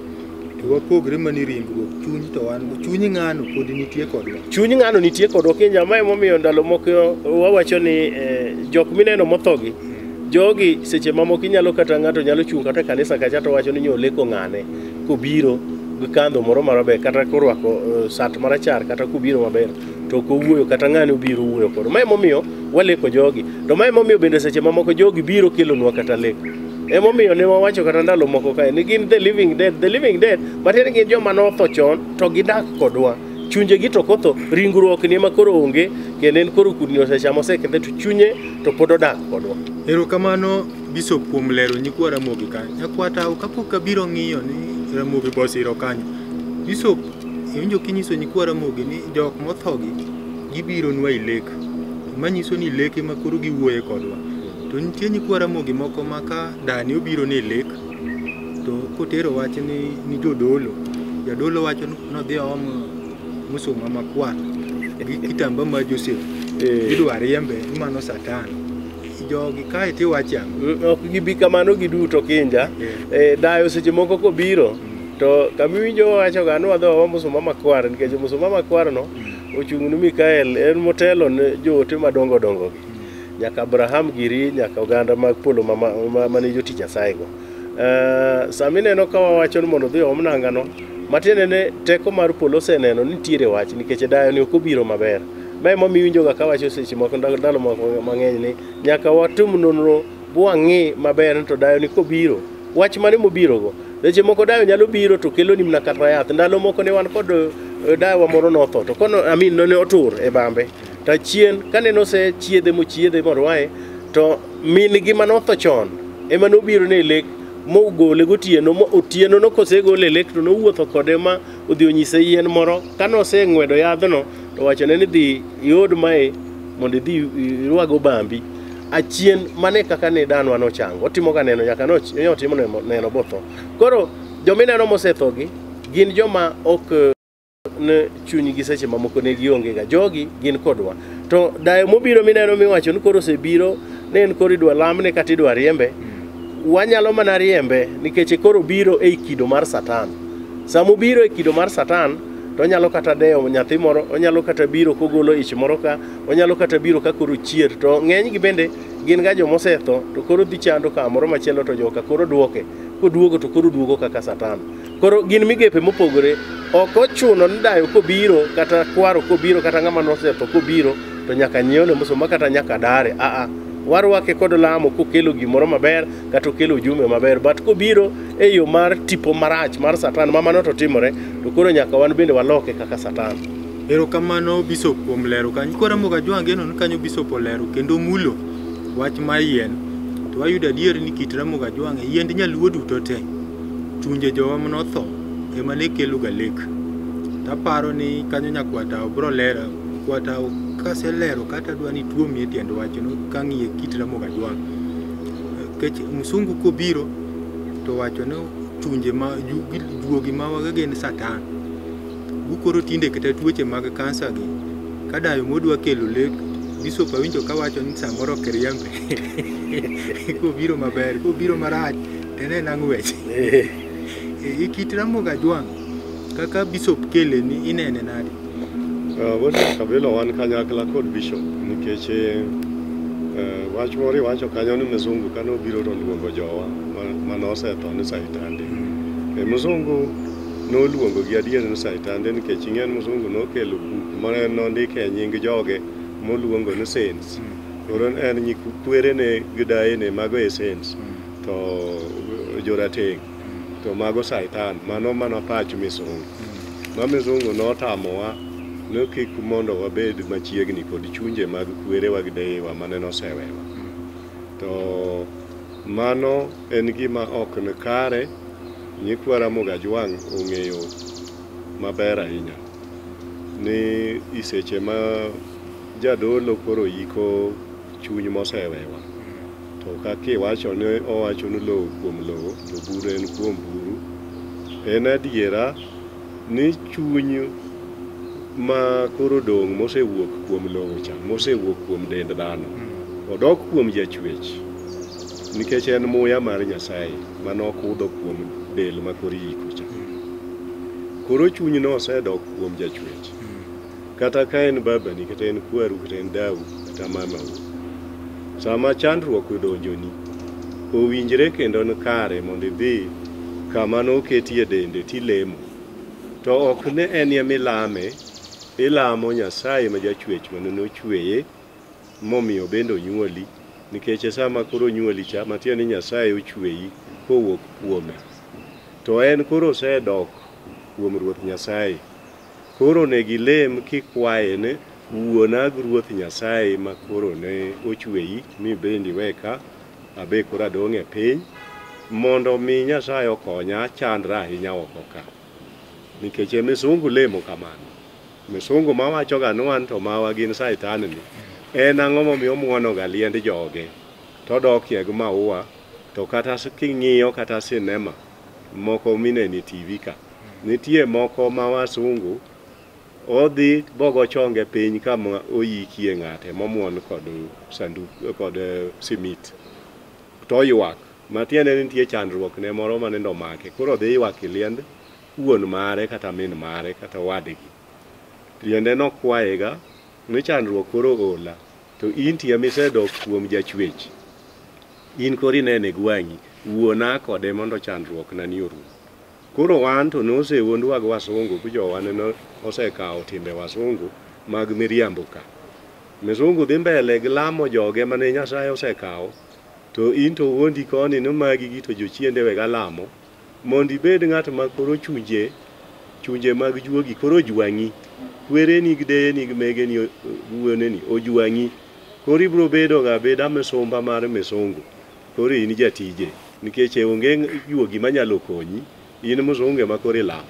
To wapogre mani ringruok, chuny to wan go. Chuny ng'ano pod nitie kodwa. Chuny ng'ano nitie kodwa Kenya, ma emomiyo ndalo moko wawacho ni eh, jok mineno mothogi jogi seche mamoko inyalo kata ng'ato nyalo chung' kata e kanisa kacha to wacho ni nyo oleko ng'ane kobiro gi kandho moro maraber kata korwako eh, sat marachar kata kobiro maber to kowuoyo kata ng'ane obiro wuoyo koro. Ma emomiyo waleko jogi. To ma emomiyo bende seche mamoko jogi biro kelonwa kata lek. Emomiyo ne wawacho kata ndalo moko kae ni gin the living dead, the living dead matiende ni gin joma notho chon to gidak kodwa. Chunjegi to kotho, ringruok ni ema koro onge kendo en koro kudni osechamo osekethe to chunye to pod odak kodwa. Erokamano Bishop kuom lero nyikwa Ramogi kanyo. Nyakwata o kapok abiro ng'iyo ni Ramogi be osiro kanyo. Bishop iwinjo kinyiso nyikwa Ramogi ni jok mothogi gibironwa e lek. Manyiso ni lek ema koro giwuoye kodwa. To nitie nyikwa Ramogi moko ma ka dani obiro ni lek to kotero wach ni, ni jodolo, jadolo wacho ni nodhi oom musuma makwar gi kitamba ma Joseph Eh. idwa riembe ni mano satan. Jogi kae to iwacho ang'o? Mm, ok gibi kamano giduto kinja Eh. eh, dayo seche moko kobiro to kamiwinjo wachoga ni wadhi wawa musuma makwar nikech musuma makwarno ochung' ni mikael en motelo ne joote madongo dongogi Nyaka Abraham giri, nyaka oganda mag polo ma, ma, ma, mane jotich Nyasaye go. Uh, sama ineno ka wawacho ni mondo odhi oom nangano, matiende ni teko mar polo oseneno ni nitiere wach nikech dayo ni ok obiro maber. Ma ema omiyo iwinjoga ka wacho seche moko ndalo ndalo moko mang'eny ni nyaka watim nonro bwang'i maber ni to dayo ni kobiro wach mane mobirogo seche moko dayo nyalo biro to keloni mana kata yath ndalo moko ne wan kod eh, dawa moro notho to kono amin ne otur e bambe To achien kane nosechiedhe mochiedhe morwaye to min gi manotho chon ema nobiro ne lek mogole gotieno mo otieno no kosegole lek to nowuotho kode ma odhi onyise yien moro kane oseng'wedo yadhno to wachone ni dhi iod mae mondo idhi irwag obambi achien mane kaka ne danwa nochango otimoga neno nyaka notimo neno botho koro jomineno mosethogi gin joma ok ne chunygi seche mamoko ne gionge ga jogi gin kodwa to dayo mobiro mineno miwacho ni koro osebiro ne en koro idwa lamne kata idwa riembe wanyalo mana riembe nikech koro biro ei kido mar satan sama obiro e kido mar satan to onyalo kata dewo nyathi moro onyalo kata biro kogolo ich moro ka onyalo kata biro ka koro chier to ng'enygi bende gin ga joma osetho to koro dhi chando kamoro machielo to joka koro duoke koduogo to koro duogo kaka satan Koro gin migepe mopogore. Ok ochuno ni dayo kobiro kata kwaro kobiro kata ng'ama nosetho kobiro to nyaka nyiewne msuma kata nyaka dare. Aa, warwake kod lamo kokelo gimoro maber kata okelo ujumbe maber but kobiro e yo mar tipo marach mar satan ma mano to timore to koro nyaka wan bende waloke kaka satan. Erokamano Bishop kuom lero kanyo. Koro Ramogi Ajwa angeno ni kanyo Bishop olero kendo omulo wach mar yien. To wayudo adier ni kit Ramogi Ajwang' e yiend nyaluo duto te. Chunje jowa mane otho ema ne keloga lek. To aparo ni kanyo nyakwata obiro lero, nyakwata kaselero kata adwa ni ituomi e tiend wachno kang'iye kit Ramogi Ajwang'. Nikech msungu kobiro to wacho ni chunje ma juogi ma waga gin satan. Gikoro tinde kata tuoche mag kansa gi ka dayo modwa kelo lek, bishop awinjo kawacho ni samoro ok riembe. Kobiro maber, kobiro marach Tene nang' weche. Eh, E kit Ramogi Ajwang' kaka Bishop Kele ni inene nade? ah, Moses Kabelo wan kanyakla kod bishop nikech eh, eh, wach moro iwacho kanyo ni mzungu kane obiro to oluongo jowa ma- mane osetho ni saitande. E mzungu noluongo gi adier ni saitande nikech ing'e ni mzungu nokelo buk mane nondike nying joge moluongo ni saints. Koro en nyik kwerene gi dayene mago e saints. to jorateng' to mago saitan mano mana pach misungu ma misungu notamowa ni kik mondo wabed machiegni kod chunje mag kwerewa gi deyewa mane nosewewa to mano en gima ok nikare nyikwa Ramogi Ajwang' ong'eyo maber ahinya ni iseche ma jadolo koro yiko chuny mosewewa To ka kiwacho ni owacho ni lowo kuom lowo to buru en kuom buru, en adiera ni chuny ma koro dong' mosewuok kuom lowo cha, mosewuok kuom dend dhano, odok kuom jachwech nikech en muya mar Nyasaye mane okudho kuom del ma koro iyiko cha. Koro chunyno osedok kuom jachwech. Kata ka en babani, kata en kwaru, kata en dau, kata mamau. Sama chandruok odonjoni, owinjre kendo ni kare mondo idhi kama noketie dende tilemo. To ok ne en ema ilame, ilamo Nyasaye ma jachwech mane nochweye momiyo bende onyuoli nikech e sama koro onyuoli cha matiende ni Nyasaye ochweyi kowuok kuome. To en koro osedok kuom Ruoth Nyasaye. Koro onego ilem kikwaye ni, 'Wuona Ruoth Nyasaye ma koro ne ochweyi mi bende iwe ka abe koro adong' e piny, mondo omi Nyasaye okonya achandra ahinya oko ka. Nikech e misungu lemo kamano. Misungu ma wachoga ni wan to mawa gin Saitanni, en ang'o momiyo omwonoga liend joge to odokie gi maua to kata king'iyo kata sinema moko mineno e TV ka, Nitie moko ma wasungu odhi bogo chonge piny kama oyikie ng'ate momwon kod sanduk kod eh, simit to oywak matiende ni nitie chandruok ne moro ma nende omake koro odhi ywak e liend wuon mare kata min mare kata wadgi tiende nokwayega ni chandruok koro ola to in tie misedok kuom jachwech in koro inene gwang'i wuona kode mondo chandruokna ni orum Koro wan to nosewuondwa gi wasungu bi jowa neno osekawo timbe wasungu mag miriambo ka. Misungu dhi mbele gi lamo joge mane Nyasaye osekawo to in to wuondi koni ni magi gi to jochiende wega lamo mondo ibed ng'at ma koro chunje chunje mag juogi koro ojwang'i. Kwereni gi deyeni gi megeni wuoneni ojwang'i. Koro ibiro bedo ga abeda misumba mar misungu. Koro in jatije nikech e onge juogi manyalo konyi in mzunge ma koro ilamo.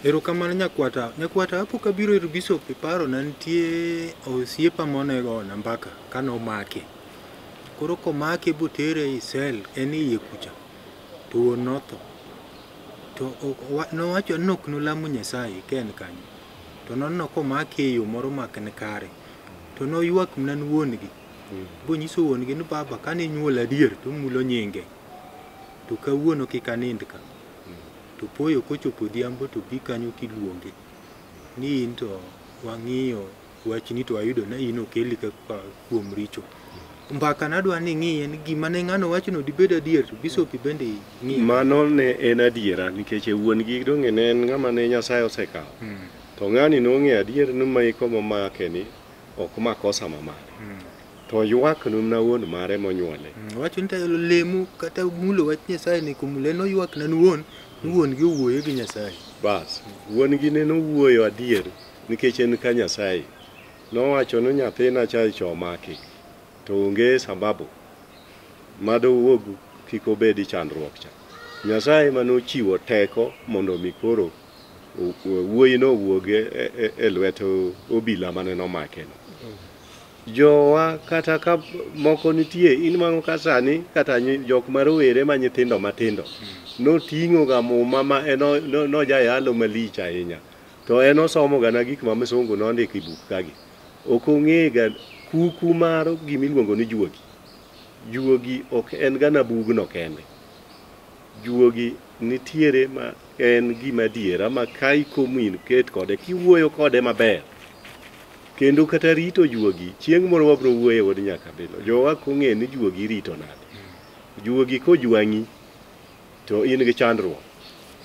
Erokamano nyakwata. Nyakwata apo kabiro ir Bishop iparo na nitie osiepa monego na mbaka kane omake. Koro komake botere ei cell en iye kucha to wuon notho. To nowacho ni ok nolamo Nyasaye ka en kanyo. To noneno komake e yo moro ma ok nikare. To noywak mna ne wuon gi. Bonyiso wuon gi ni baba kane inyuola adier to mulo nyinge. To kawuono kik anind ka. To poyo kochopo odhiambo to bi kanyo kiluonge. Ni in to wang'iyo wachni to wayudo na in okeli ka kuom richo. Mbaka nadwa ni ing'iye ni gima ne ng'ano wachno dibed adier to bisopi bende ing'iye. Mano ne en adiera nikech e wuon gi donge ne en ng'ama ne Nyasaye osekawo. To ng'ani nong'eyo adier ni meko momake ni ok makosa mamare Mm. to ywak na wuon mare monyuole Mm, Wacho ni tayolo lemo kata mulo wach Nyasaye ni kumule no ywak na nuwon, nuwon gi owuoyo gi Nyasaye. bas wuon gi ne nowuoyo adier nikech en ka nyasaye nowacho ni nyathina cha icho omaki to onge sababu mado wuog kik obedi chandruok cha nyasaye ma nochiwo teko mondo mi koro wuoyi no wuog e, e, e lwet obila mane nomake no jowa kata ka moko nitie in mano ka sani kata jok ma rowere ma nyithindo matindo noting'o ga muma ma e, nojayalo malich ahinya to en osomo gana gik ma misungu nondiko i buk kagi ok ong'ega kuku mar gimiluongo ni juogi juogi ok en gana bugno kende Juogi nitiere ma en gima adiera ma ka i-communicate kode, kiwuoyo kode maber, kendo kata rito juogi, chieng' moro wabro wuoye wuod Nyakabilo, jowa kong'e ni juogi irito nade. Juogi kojwang'i to in gi chandruok.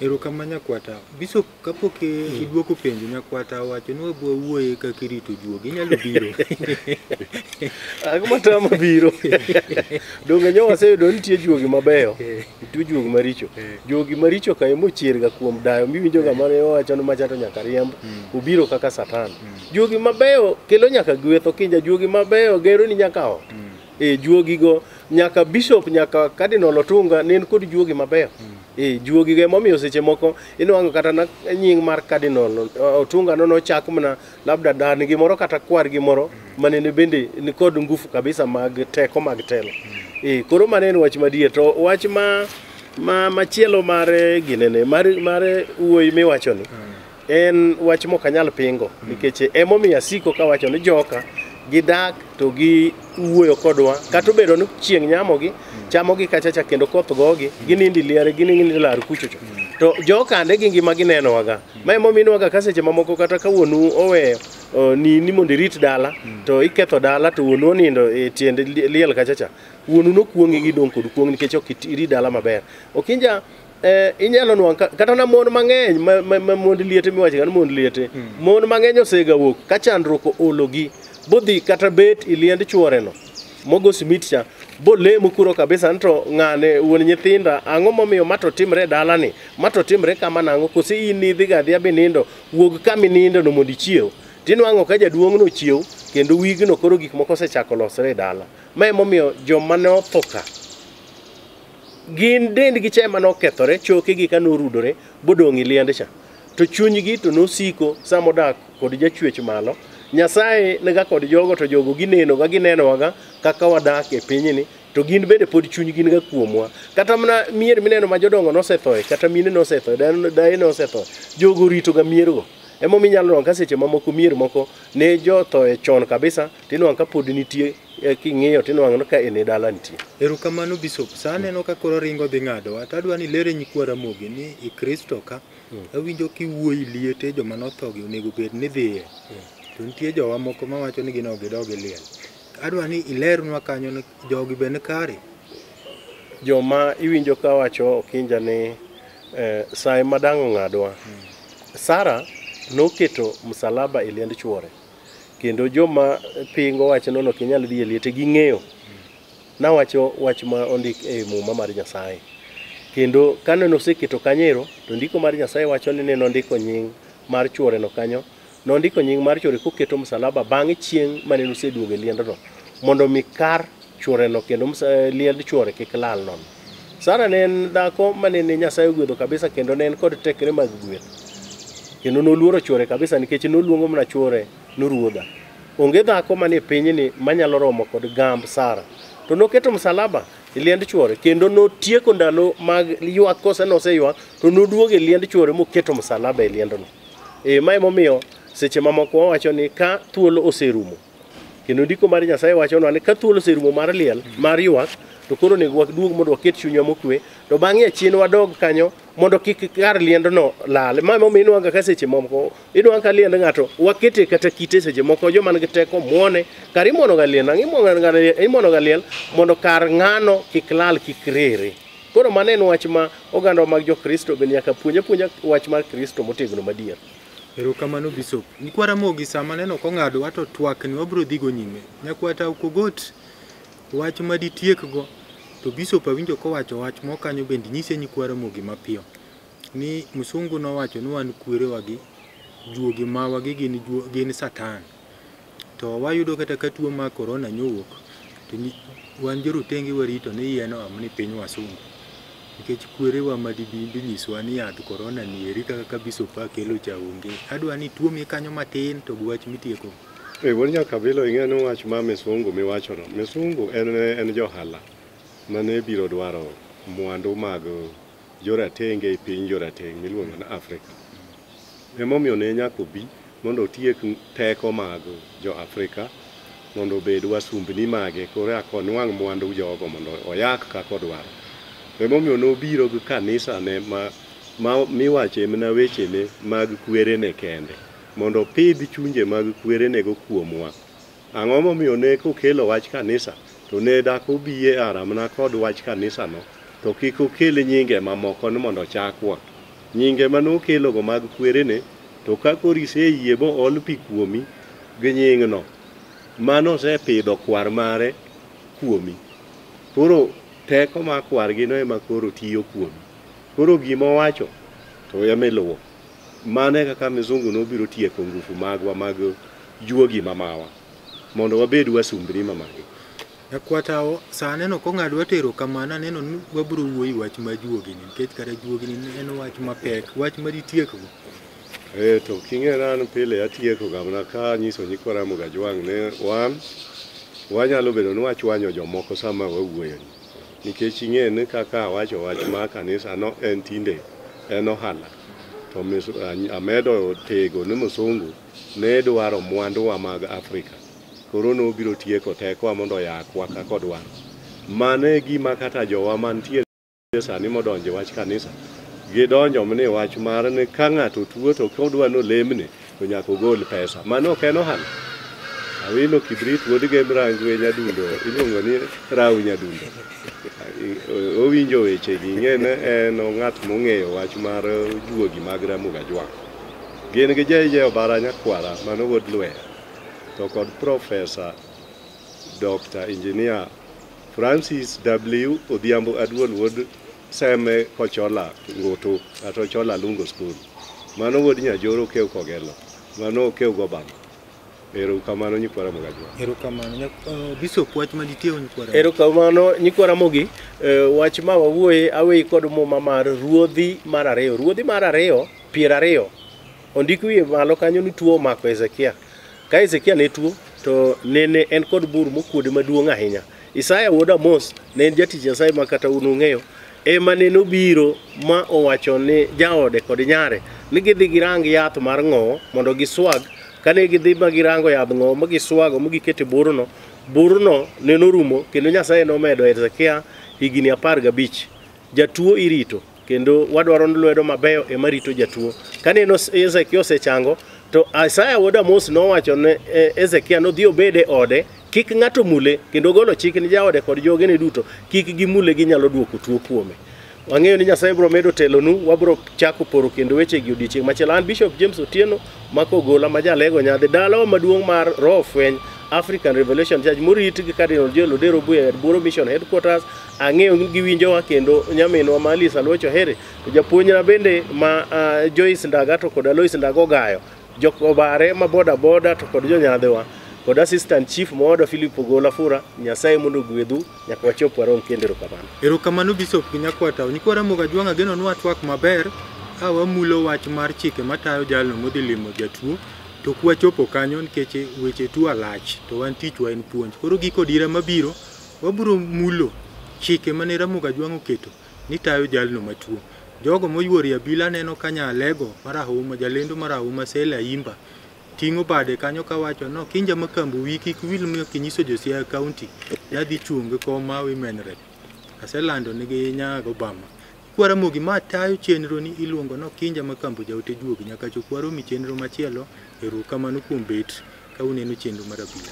Erokamano nyakwata. Bishop Kapok i- idwoko penjo nyakwata wacho ni wabwa wuoye kaka irito juogi inyalo biro Ang'o matama biro? Donge nyo waseyudo ni nitie juogi mabeyo, nitie juogi maricho. Juogi maricho ka emo chierga kuom dayo miwinjo ga mane owacho ni macha to nyaka riemb, obiro kaka satan. Juogi mabeyo kelo nyaka gweth okinja, juogi mabeyo gero ni nyaka ot. e juogi go nyaka bishop nyaka cardinal otunga ne en kod juogi mabeyo e juogi go emomiyo seche moko inwango kata na nying mar cardinal o- otunga no nochak mana labda dan gi moro kata kwar gi moro mane ne bende ni kod ngufu kabisa mag teko mag telo e koro mane en wach madier to wach ma ma machielo mar ginene mar mar wuoyi miwachoni En wach mok anyal pingo nikech emomiyo asiko kawacho ni joka gidak to giwuoyo kodwa kata obedo ni chieng' nyamogi chamogi kachacha kendo koth gogi ginindi liare ginindi lar kuchocho to jokande gi ngima ginenowaga ma emominwaga ka seche mamoko kata ka wuonu oweyo o, ni ni mondo irit dala to iketho dala to wuonu onindo e tiend li- liel kachacha wuonu nokuong'i gidong' kod kuong' nikech ok iti- iri dala maber okinja Eh, inyalo nwang' ka- kata na mon mang'eny ma- ma ma mond liete miwacho ga ni mond liete mon mang'eny osega wuok ka chandruok oologi bodhi kata bet iliend chuoreno mogo simit cha bolemo kuro kabisa ni to ng'ane wuon nyithinda ang'o momiyo ma to timre e dalani ma to timre kama nang'o kose in nidhiga adhiya binindo wuog kama inindono mondo ichiew tinwang'o ka jaduong'no chiew kendo wigno koro gik moko osechako losre e dala ma emomiyo joma ne otho ka Gin dendgi cha ema nokethore, chokegi ka norudore bodong' i liend cha, to chunygi to nosiko sa modak kod Jachwech malo. Nyasaye niga kod jogo, to jogo ginenoga, ginenowaga kaka wadak e pinyni, to gin bende pod chunygi niga kuomwa. Kata mana mier mineno ma jodongo nosethoe, kata mine nosethoe, dayone daye nosethoe, jogo oritoga miergo. Emomiyo inyalo neno ka seche mamoko mier moko ne jothoe chon kabisa, tinwang' ka pod nitie. Eh, king'iyo tinwang'o ka en e dala nitie. Erokamano Bishop. Sa aneno ka koro ringo dhi ng'adowa, to adwa ni ilere nyikwa Ramogi ni i Kristo ka. Hmm. Awinjo kiwuoyi liete joma nothogi onego bed ni dhiye. Hmm. To nitie jowa moko mawacho ni gin ok gidog e liel. Adwa ni ilernwa kanyo ni jogi be ni kare. Joma iwinjo ka wacho Okinja ni eh, sa ema dang' ong'adwa. Hmm. Sara noketo msalaba e liend chwore. Kendo joma pingo wachno no kinyal dhi e liete gi ng'eyo nawacho wach ma ondik e muma mar Nyasaye. Kendo kane noseketo kanyero, to ndiko mar Nyasaye wacho ni ne nondiko nying mar chwore no kanyo. Nondiko nying mar chwore koketo msalaba bang'e chieng' mane noseduogo e liendno mondo mi kar chwore no kendo msa- liend chwore kik lal nono. Sara ne en dhako ma nene Nyasaye ogwedho kabisa kendo ne en kod tekre mag gweth. Kendo noluoro chwore kabisa nikech noluongo mana chwore ni ruodha. Onge dhako manie pinyni manyalo romo kod gamb Sara. To noketo msalaba e liend chwore kendo notieko ndalo mag ywak kose noseywak to noduogo e liend chwore moketo msalaba e liendono. E ma emomiyo seche mamoko wawacho ni ka thuolo oserumo Kendo ndiko mar Nyasaye wachonwa ni ka thuolo oserumo mar liel, mar ywak, to koro onego waduog mondo waket chunywa mokwe, to bang'e achien wadog kanyo mondo kik kar liendno lal. Ma emomiyo inwanga ka seche moko inwanga ka liend ng'ato wakete kata kite seche moko joma nigi teko muone kar imonoga liel nang' imonoga liel- imonoga liel mondo kar ng'ano kik lal kik rere. Koro mano en wach ma oganda mag jo Kristo bende nyaka puonj apuonja wach mar Kristo motegno madier. Erokamano Bishop. Nyikwa Ramogi sama neno kong'ado wato twakni wabiro dhigo nyime. Nyakwa Tau Kogot wach ma ditiekgo to Bishop awinjo kowacho wach moro kanyo bende nyise nyikwa Ramogi mapiyo ni msungu nowacho ni wan kwerewagi, juogi mawagi gin, juo, gin satan. To wayudo kata ka tuo mar korona nyowuok, to wan jo Rutenge warito ni iye no amni piny wasungu. Nikech kwerewa ma dibi binyiswa ni yadh korona ni eri kaka ka biso pa kelo cha onge. Adwa ni tuo mi kanyo matin to gwach mitieko. E wuod nyakabilo ing'e ni wach ma misungu miwacho no. Misungu en en johala mane biro dwaro mwandu mag joratenge e piny jorateng' miluongo ni Afrika. Emomiyo ne nyaka obi mondo otiek teko mag jo-Afrika mondo obed wasumbni mage koro eka onwang' mwandu jogo mondo oyak kaka odwaro. To emomiyo nobiro gi kanisane ma, ma miwache mana wechene mag kwerene kende mondo opidh chunje mag kwerenego kuomwa Ang'o momiyo ne kokelo wach kanisa to ne dak obiye ara mana kod wach kanisano to kik okel nyinge mamoko ni mondo ochakwa. Nyinge ma nokelogo mag kwerene to ka koro iseyie bo ol pi kuomi gi nyingno, mano osepidho kwar mare kuomi. Koro teko mar kwargino ema koro tiyo kuomi. Koro gima owacho to ema iluwo. Mano e kaka mizungu nobiro tieko ngufu magwa mag juogi mamawa mondo wabed wasumbni mamagi. Nyakwatawo sa aneno kong'adwa tero kamano aneno ni wabiro wuoyi wach ma juogini nikech kata juogini en wach mapek wach ma ditiekgo Eh, to king'era an pile atieko ga mana ka nyiso nyikwa Ramogi Ajwang' ni wan wanyalo bedo ni wachwanyo jomoko sama wawuoyoni. Nikech ing'e ni kaka awacho wach ma kanisa no en tinde en ohala. To mis, amedo tego ni musungu ne dwaro mwanduwa mag Afrika. Koro nobiro tieko tekowa mondo oyakwa kaka odwaro. Mano e gima kata jowa mantie sani modonje wach kanisa gidonjo mni wach mar ni ka ng'ato tuo to kodwa nolemne to nyaka ogol pesa. Mano ok en ohala. Awino Kibrit wuod Gemrangwe Nyadundo iluongo ni Rau Nyadundo. Owinjo wechegi ing'e ni en ng'at mong'eyo wach mar juogi mag Ramogi Ajwang'. Gin gi JJ Obara Nyakwara mano wuod Lweya to kod Profesa Dr. Engineer Francis W. Odhiambo Aduol wuod Seme kochola ngutu kata ochola lungo skul. Mano wuod nyajoro okew kogelo. Mano okew gobam. Ero kamano nyikwara mogajwa. Ero kamano. Nyak, uh, Bishop wach ma ditie nyikwara. Ero kamano nyikwara mogi. Uh, wach ma wawuoye aweyi kod muma mar ruodhi mar ariyo. Ruodhi mar ariyo pier ariyo. Ondik wiye malo kanyo ni tuo omako Hezekia. Ka Hezekia ne tuo to nene en kod bur mokuode maduong' ahinya. Isaya wuod Amos ne en jatich Nyasaye ma kata un ung'eyo ema nene obiro ma owacho ni jaode kod nyare ni gidhi girang yath mar ng'owo mondo giswag kane gidhi ma girango yadh ng'owo ma giswago ma gikete burno burno nene orumo kendo Nyasaye nomedo Hezekia higni apar gabich jatuo irito kendo wadwaro ni lwedo mabeyo ema rito jatuo. Kane no- Hezekia osechango, to Isaya wuod Amos nowacho ne eh, Hezekia nodhi obed e ode, kik ng'ato mule, kendo ogolo chik ni jaode kod jogene duto, kik gimule ginyalo duoko tuo kuome. Wang'eyo ni Nyasaye biro medo telonu, wabiro chako poro kendo weche gi odiechieng' machielo. An Bishop James Otieno mako gola ma jalego nyadhi dalawa maduong' mar Roho Fweny African Revelation Church morit gi Cardinal Joel Odero Buya e Buro Mission Headquarters Ang'eyo ni giwinjowa kendo nyaminwa ma Alice Aluoch Ohere to japuonjna bende ma ah, Joyce Ndaga to kod Alois Ndaga Ogayo, jokobare ma boda boda to kod jonyadhiwa kod assistant chief mawadwa Philip Ogola Fura, Nyasaye mondo ogwedhu nyaka wachop warom kendo erokamano. Erokamano Bishop gi Nyakwata. Nyikwa Ramogi Ajwang' ageno nwa twak maber. A wamulo wach mar chike matayo jalno modhi limo jatuo. To kwachopo kanyo nikech weche tuo alach to wan tichwa en puonj. Koro giko dira mabiro Wabiro mulo chike mane Ramogi Ajwang' oketo ni tayo jalno matuo. Jogo moyuoro e abila aneno ka nya Alego marahuma, jalendo marahuma Sele Ayimba ting'o bade kanyo kawacho no kinja makambo wi kik wil mi kinyiso jo Siaya County nadhi chungi kom ma women rep. Aselando nigi nyaga Obama. Kwa Ramogi ma tayo chenro ni iluongo no kinja makambo jaote juogi nyaka chop waromi chenro machielo. Erokamano kuom bet ka uneno chenro mar abila.